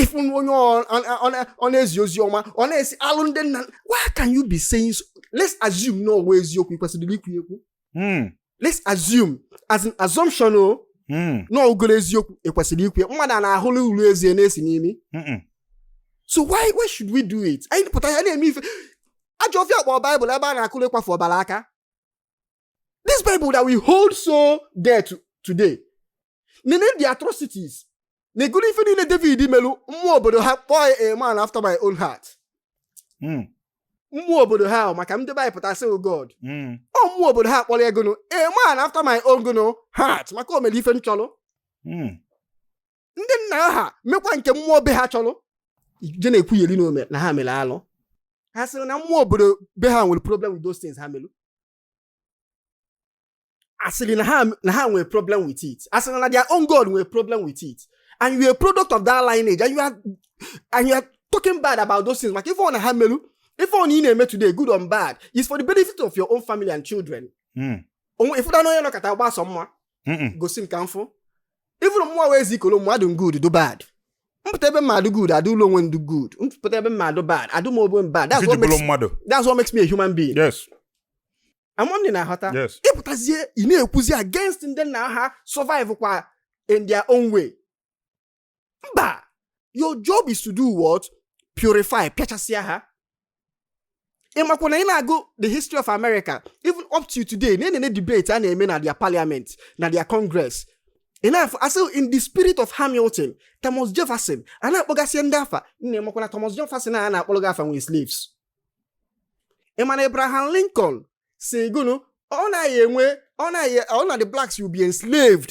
ị fụ onye ọ na-ezi ozi ọma ọ na-asị alụ ndị nna why can you be saying so? let's assume na ọ wụ eziokwu i kwesịrị ikwu ekwu hmm. let's assume as an assumption o oh, hmm. na ọ wụrụ eziokwu e kwesịrị ikwu mmadụ a na-ahụla uru ezie na-esi n'imi so why why should we do it anyị pụta ya na-eme ife ajọ ọfịa a kpọrọ baịbụl ebe a na-akụrụ ịkwafu ọbara aka This Bible that we hold so dear today. Nene the atrocities. Negodu ife niile David melu mmụọ obodo ha kpọọ ya a man after my own heart. Hmm. Mmụọ obodo ha maka ndị be anyị pụta sị oh God. Hmm. Ọ mmụọ obodo ha kpọrọ ya gụnụ a man after my own gụnụ heart maka o mere ife m chọrọ. Hmm. ndị nna ha mekwa nke mmụọ be ha chọrọ je na-ekwunyeri n'ome na ha mere alụ ha sịrị na mmụọ obodo be ha nwere problem with those things ha mere a sịrị na ha nwere problem with it a sịrị na their own God nwere problem with it and you are a product of that lineage and you are talking bad about those things maka ife ọ na ha meru ife ọ na ị na-eme today good or bad is for the benefit of your own family and children hmm. o nwee ife na onye nọkọta gbasọ mma gosi m ka m fụ ị fụrụ mụwa wụ Ezeikolomụọ adụ m good dụ bad m pụta ebe m ma-adụ good adịlụ onwe m dụ good m pụta ebe m ma-adụ bad adị m ogbe bad that's what makes mmadụ that's what makes me a human being yes ama m na ị na-aghọta ị pụtazie ị na-ekwuzi against ndị nna ha survive kwa in their own way mba your job is to do what purify pịachasịa ha ị makwa na ị na-agụ the history of america even up to today na enene debate a na-eme na their parliament na their congress ị na-afụ a sị in the spirit of hamilton thomas jefferson a na-akpọgasị ndị afa nna ị makwa na thomas jefferson a na-akpọrọ gị afa nwere slaves ị ma na abraham lincoln sị gụnụ ọ naghị enwe ọ naghị ọ na the blacks will be enslaved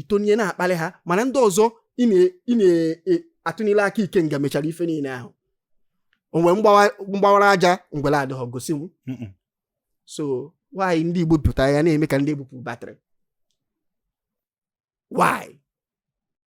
itonye na-akpali ha mana ndị ọzọ ị na-atụnyere aka ikenga mechara ife niile ahụ o nwee mgbawara aja ngwere adịghị gosi m so why ndị Igbo pụtara ya na-eme ka ndị e bupụ battery why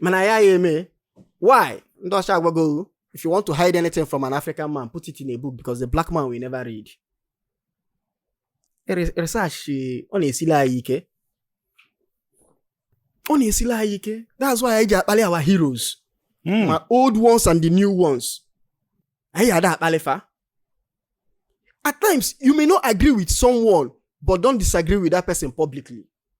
mana ya ya eme why ndị ọcha agwago if you want to hide anything from an African man put it in a book because the black man will never read research ọ na-esili anyị ike ọ na-esili anyị ike that's why anyị ji akpali our heroes hmm. ma old ones and the new ones anyị ada akpali fa at times you may not agree with someone but don't disagree with that person publicly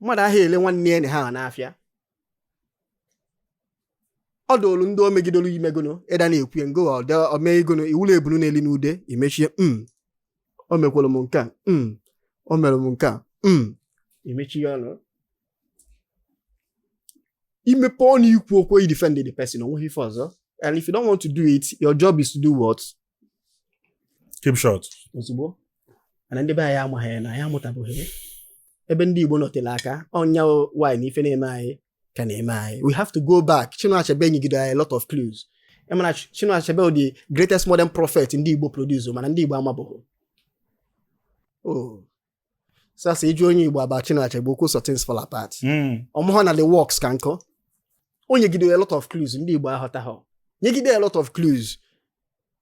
mmadụ aha ele nwanne ya na ha n'afịa ọ dụrụ ndị o megidoro imegono ịda na-ekwu ya ngo o megono ị wụlụ ebunu na-eli n'ude imechie m mm. o mekwara m nke a mm. o mere m nke a mm. i mechie ọnụ i mepe ọnụ ikwu okwu you defend the person o nweghị ife ọzọ and if you don't want to do it your job is to do what keep short ozugbo mana ndị be anyị amaghị ya na anyị amụtabeghị ya. ebe ndị Igbo nọtere aka ọnya wanyị na ife na-eme anyị ka na-eme anyị we have to go back Chinua Achebe nyegide anyị a lot of clues ị ma na Chinua Achebe the greatest modern prophet ndị Igbo produce mana ndị Igbo amabeghị oh sasa ịjụ onye Igbo about Chinua Achebe o kwuo sọ Things Fall Apart hmm. ọ mahọ na the works ka nkọ o nyegide a lot of clues ndị Igbo aghọtaghọ nyegide a lot of clues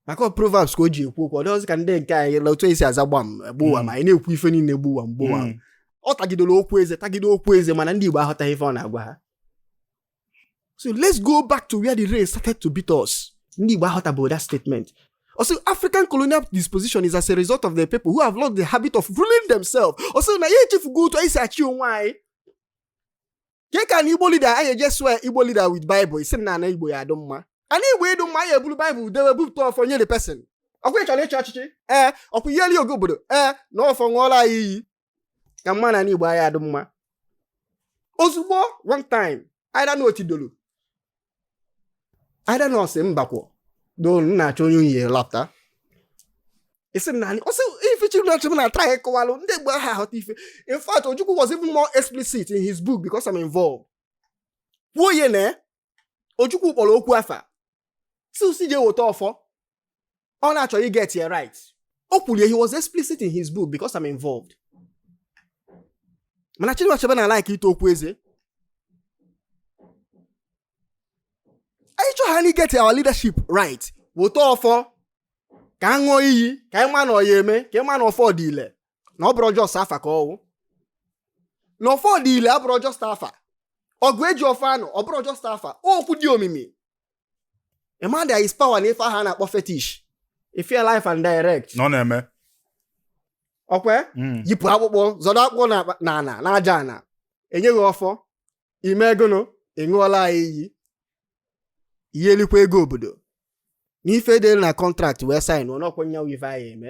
maka proverbs ka o ji ekwu okwu ọ dịghịzi ka ndị nke anyị la otu esi aza gbam gbuwa hmm. ma anyị na-ekwu ife niile gbuwa gbuwa hmm. ọ tagidere okwu eze tagide okwu eze mana ndị Igbo aghọtaghị ife ọ na-agwa ha so let's go back to where the rain started to beat us ndị Igbo aghọtabeghị that statement Ọ sị African colonial disposition is as a result of the people who have lost the habit of ruling themselves. Ọ sị na anyị echefugo otu anyị si achị onwe anyị. Ke ka na Igbo leader anyị eje swear Igbo leader with Bible ị sị na ana Igbo ya-adị mma. Ana Igbo ịdụ mma anyị eburu Bible dewe bupụta ọfọ nye the person. Ọ kwa ị chọrọ ịchị ọchịchị? Ee, ọ kwa ị ya-eli ego obodo. Ee, na ọfọ ṅụọlụ anyị iyi. ka ị ma na ani Igbo a ya-adị mma ozugbo one time either na o tidolu either na ọ sị mbakwọ dolu na-achọ onye unyi lapụta isi m n'ani ọ sị ife Chinua Achebe na-atry ịkọwalụ ndị Igbo aha aghọta ife in fact ojukwu was even more explicit in his book because I'm involved kwuo ye na Ojukwu kpọrọ okwu afa sị je weta ọfọ ọ na-achọ i get ya right o kwuru ya he was explicit in his book because I'm involved mana Chinua Achebe na-alike ịta okwu eze anyị chọọ ka anyị get our leadership right weta ọfọ ka a ṅụọ iyi ka anyị ma na ọ ya-eme ka ị ma na ọfọ dị ile na ọ bụrọ just afa ka ọ wụ na ọfọ dị ile abụrọ just afa ọgụ eji ọfọ anụ ọ bụrọ just afa okwu dị omimi ịma there is power na ife ahụ a na-akpọ fetish ị fụ ya live and direct na ọ na-eme ọkwe hmm. yipụ akpụkpọ zọdo akpụkpọ na ana na aja ana e nye gị ọfọ i megono ịṅụọla anyị iyi ihe elikwa ego obodo n'ife dị na contract wee sign ọnọkwa nya wụ ife anyị eme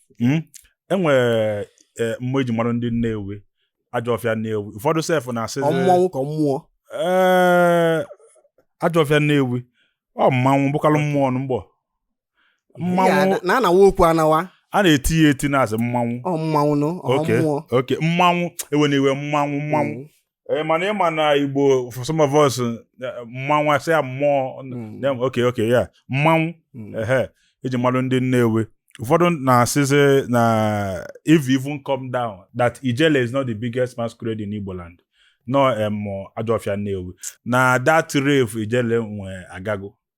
hmm? e nwere e, mmụọ e ji mara ndị Nnewi ajọ ọfịa Nnewi ụfọdụ sef na-asị mmụọ ka mmụọ ee eh, ajọ ọfịa Nnewi ọ mmanwụ bụkalụ mmụọ mgbe mmanwụ na-anawa okwu anawa a na-eti ya eti na-asị mmanwụ mmanwụ mmụọ okay mmanwụ ewe na iwe mmanwụ mmanwụ mm. ee eh, mana ịma na igbo for some of us eh, mmanwụ a sị ya mmụọ hmm. okay okay yeah mmanwụ hmm. ehe e ji malụ ndị nnewi ụfọdụ na-asịzi na if you even come down that ijele is not the biggest masquerade in igbo land no em ajọfịa nnewi na that rave ijele nwe agago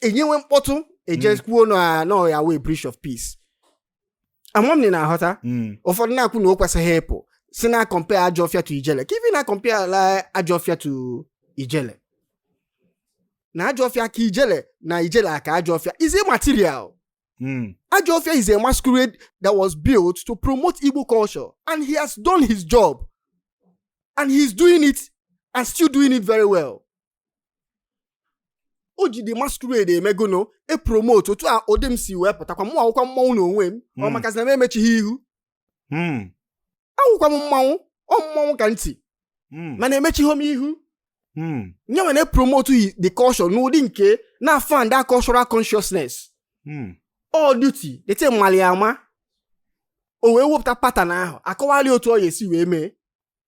e nyewe mkpọtụ e jee hmm. kwuo na ọ ya-awụ breach of peace ama m na ị na-aghọta hmm. ụfọdụ na-ekwu na o kwesịghị ịpụ si na compare ajọ ọfịa to ijele ka even na compare ala ajọ ọfịa to ijele na ajọ ọfịa ka ijele na ijele aka ajọ ọfịa is immaterial hmm. ajọ ọfịa is a masquerade that was built to promote igbo culture and he has done his job and he is doing it and still doing it very well o ji the masquerade emegono epromote otu a ụdị m si wee pụtakwa mụwa wụkwa mmanwụ na onwe m ọ hmm. makazi na m emechighị ihu hmm. awụkwa m mmanwụ ọ mmanwụ ka m ti hmm. mana emechighị m ihu nye nwere promote yi the culture n'ụdị nke na-afan that cultural consciousness all duty dete mmalị ama o wee wepụta pattern ahụ a kọwalị otu ọ ya-esi wee mee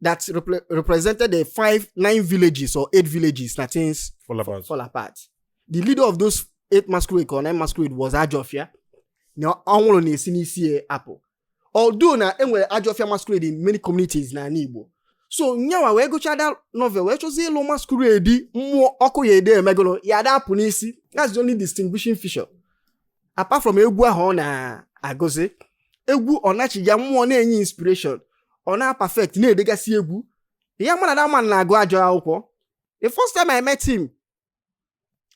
that repre- represented the five, nine villages or eight villages that Things Fall apart. fall apart. The leader of those eight masquerade or nine masquerade was Ajofia. Na anwụrụ na-esi n'isi ya apụ. Although na e nwere Ajofia masquerade in many communities na ana Igbo. So nyawa wee gụchaa that novel wee chọzie ịlụ masquerade mmụọ ọkụ ya ede emegono ya ada apụ n'isi. That's the only distinguishing feature. apart from egwu ahụ ọ na-agụzi egwu ọ na chi ya mmụọ na-enye inspiration ọ na-aperfect na-edegasị egwu ya mana that man na-agụ ajọ akwụkwọ the first time I met him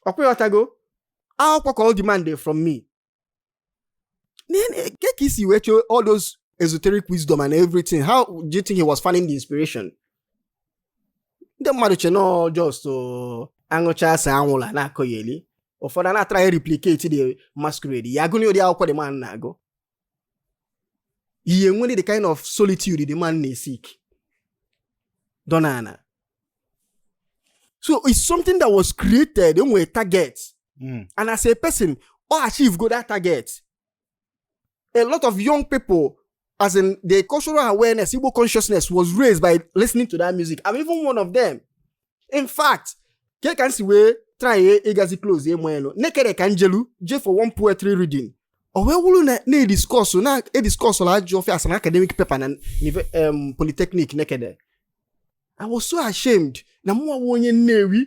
ọkwa ị ghọtago akwụkwọ ka ọ demand from me kee ka i si wee chee all those esoteric wisdom and everything how do you think he was finding the inspiration ndị mmadụ che na ọ just uh, aṅụchaa asa anwụlụ a na-akọyeli ụfọdụ a na-atry ịreplicate the masquerade ya agụnye ụdị akwụkwọ the man na-agụ ha enwere the kind of solitude the man na-eseek donana so it's something that was created o nwere target mm. and as a person ọ achieve go that target a lot of young people as in the cultural awareness, Igbo consciousness was raised by listening to that music. I'm even one of them. In fact, ke ka nsi wee try ịgazi close emo elu Nekede ka njelu je for one poetry reading o wee wuru na a na-ediscuss na-ediscuss la Ajọ Ọfịa as an academic paper na um, polytechnic Nekede I was so ashamed na mụnwa wụ onye Nnewi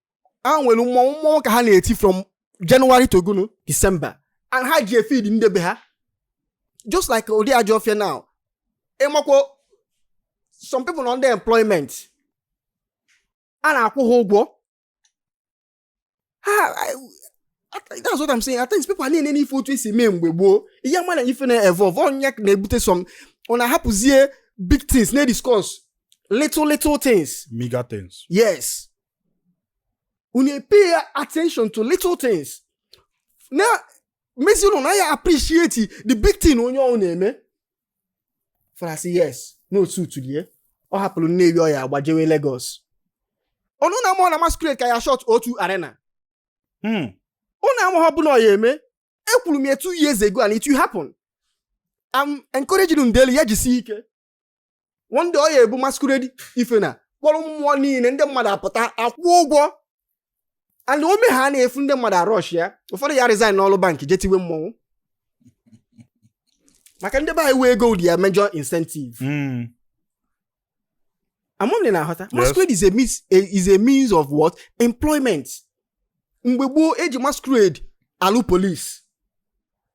a nwere mmọnwụ mmọnwụ ka ha na-eti from January to gụnụ December and ha ji efeed ndị be ha just like ụdị Ajọ Ọfịa now ị makwa some people nọ under employment a na-akwụ ha ụgwọ that's what I'm saying at times people na-ene n'ife otu e si eme mgbe gboo ị ya-ama na ife na-evolve ọ ya na-ebute some unu ahapụzie big things na-ediscuss little little things. Mega things. Yes. unu epay attention to little things na mezi unu na ya appreciate the big thing onye ọhụ na-eme farasi yes n'otu utulie ọ hapụrụ Nnewi ọ ya agbajewe Lagos ụnụ amahọ na masquerade ka ya shut O2 Arena hmm. ụnụ amahọ ọ bụ na ọ ya-eme ekwuru m ya two years ago and it will happen I'm encouraging unu daily ya jisi ike one day ọ ya-ebu masquerade ife na kpọrọ mmụọ niile ndị mmadụ apụta akwụ ụgwọ and o mehaa na-efu ndị mmadụ arush ya ụfọdụ ya resign n'ọrụ bank je tiwe mmọnwụ maka ndị be anyị wee ego wụ their major incentive hmm. amahọ m n'ị na-aghọta masquerade is a means is a means of what employment mgbe gboo eji masquerade alụ police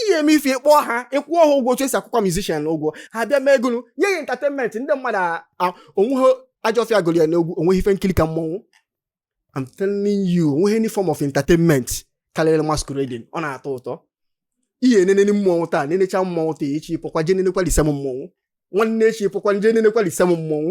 ị ya-eme ife ị kpọọ ha ị kwụọ ha ụgwọ otu e si akwụkwa musician ụgwọ ha bịa mee egonu nye ya entertainment ndị mmadụ onwe ha Ajọ Ọfịa gụrụ ya n'egwu o nweghị ife nkiri ka mmọnwụ I'm telling you o nweghị any form of entertainment karịrị masquerading ọ na-atọ ụtọ ị ya-enene mmọnwụ taa nenecha mmọnwụ taa echi pụkwa jee nenekwa the same mmọnwụ nwanne echi pụkwa jee nenekwa the same mmọnwụ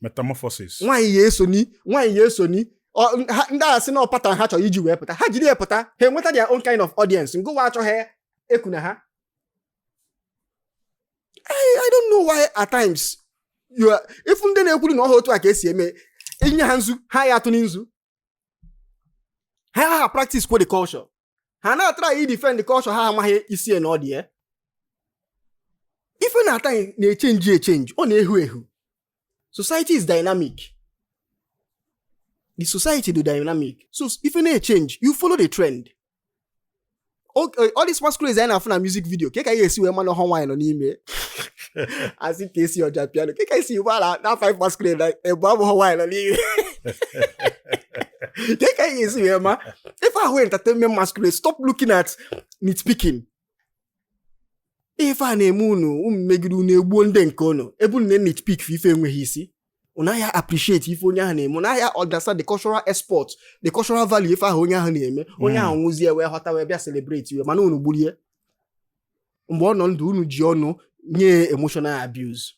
metamorphosis nwaanyị ya esoni nwaanyị ya esoni ndị a sị na ọ pattern ha chọrọ iji wee pụta ha jiri ya pụta ha enweta their own kind of audience ngụwa achọghị ekuna ha I don't know why at times you are ị fụ ndị na-ekwuru na ọ họ otu a ka e si eme i nye ha nzu ha ya-atụni nzu ha ha practice kwa the culture ha na-atraị defend the culture ha amaghị isi na ọdụ ya ife na-ata na-echenji echenji ọ na-ehu ehu society is dynamic the society dụ dynamic so ife na-echenji you follow the trend Okay, all these masquerades anyị na-afụ na music video kee ka anyị esi wee ma na ọhọ nwaanyị nọ n'ime a sị Kcee Ojapiano kee ka e si mara na five masquerade na-ebu abụghọ nwaanyị nọ n'ime kee ka anyị esi wee ma ife ahụ entertainment masquerade stop looking at nitpicking ife a na-eme unu emegide unu egbuo ndị nke unu ebe unu na-nitpick ife enweghị isi unu anaghị appreciate ife onye ahụ na-eme unu anaghị understand the cultural export the cultural value ife ahụ onye ahụ na-eme onye ahụ nwụzie wee ghọta wee bịa celebratiwe mana unu gburie mgbe ọ nọ ndụ unu ji ọnụ nye emotional abuse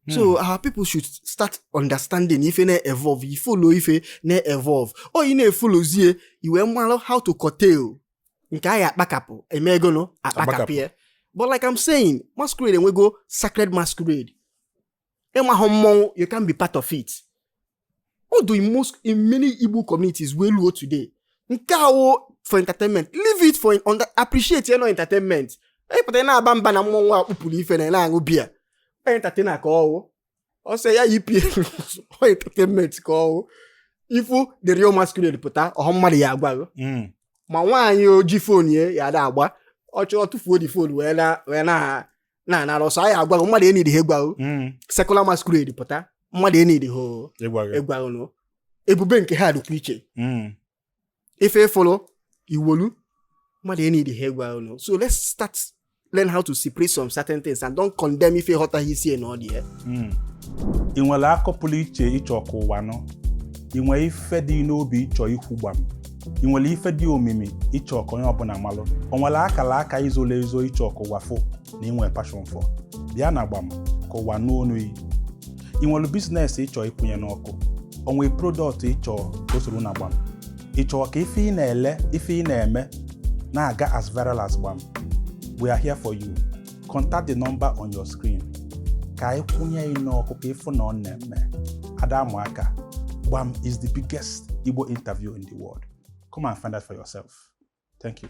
so our people should start understanding ife na-evolve i folo ife na-evolve oyi na-efolozie i wee malụ how to curtail nke a ya-akpakapụ emegonụ akpakapụ ya but like I'm saying masquerade e nwego sacred masquerade ị mahụ mmọnwụ you can't be part of it ọ dụ in most in many Igbo communities wee luo today nke a wụ for entertainment leave it for appreciate ya n'ọ entertainment ị pụta na-aba mba na mmọnwụ a kpupuru ife na na-aṅụ biya entertainer ka ọ wụ ọ sị ya yipie ọ entertainment ka ọ wụ ị fụ the real masquerade pụta ọhọ mmadụ ya-agwa gị mm. ma nwaanyị o ji fon ya ya ada agba ọ chọọ tụfuo the fon wee na wee na na anara ọsọ a ya-agwa gị mmadụ enidihọ ịgwa gị mm. secular masquerade pụta mmadụ enidihọ ịgwa gị ịgwa gị nụ ebube nke ha dịkwa iche mm. ife ị fụlụ i wolu mmadụ enidihọ ịgwa gị nụ so let's start learn how to separate some certain things and don't condemn ife ị ghọtaghị isi na ọdụ ya hmm. ị nwere akọ pụrụ iche ị chọ ka ụwa nụ ị nwere ife dị n'obi ị chọ ikwu Gbam ị nwere ife dị omimi ị chọ ka onye ọbụla malụ o nwere akaraka i zolo ezo ị chọ ka ụwa fụ na i nwe passion for bịa na Gbam ka ụwa nụ onu yi ị nwere bizinesi ị chọ ịkwụnye n'ọkụ o nwe prodọkt ị chọ ka o soro na Gbam ị chọ ka ife ị na-ele ife ị na-eme na-aga as viral as Gbam we are here for you contact the number on your screen ka anyị kwụnye ị n'ọkụ ka ị fụ na ọ na-eme ada ama aka Gbam is the biggest Igbo interview in the world come and find out for yourself Thank you.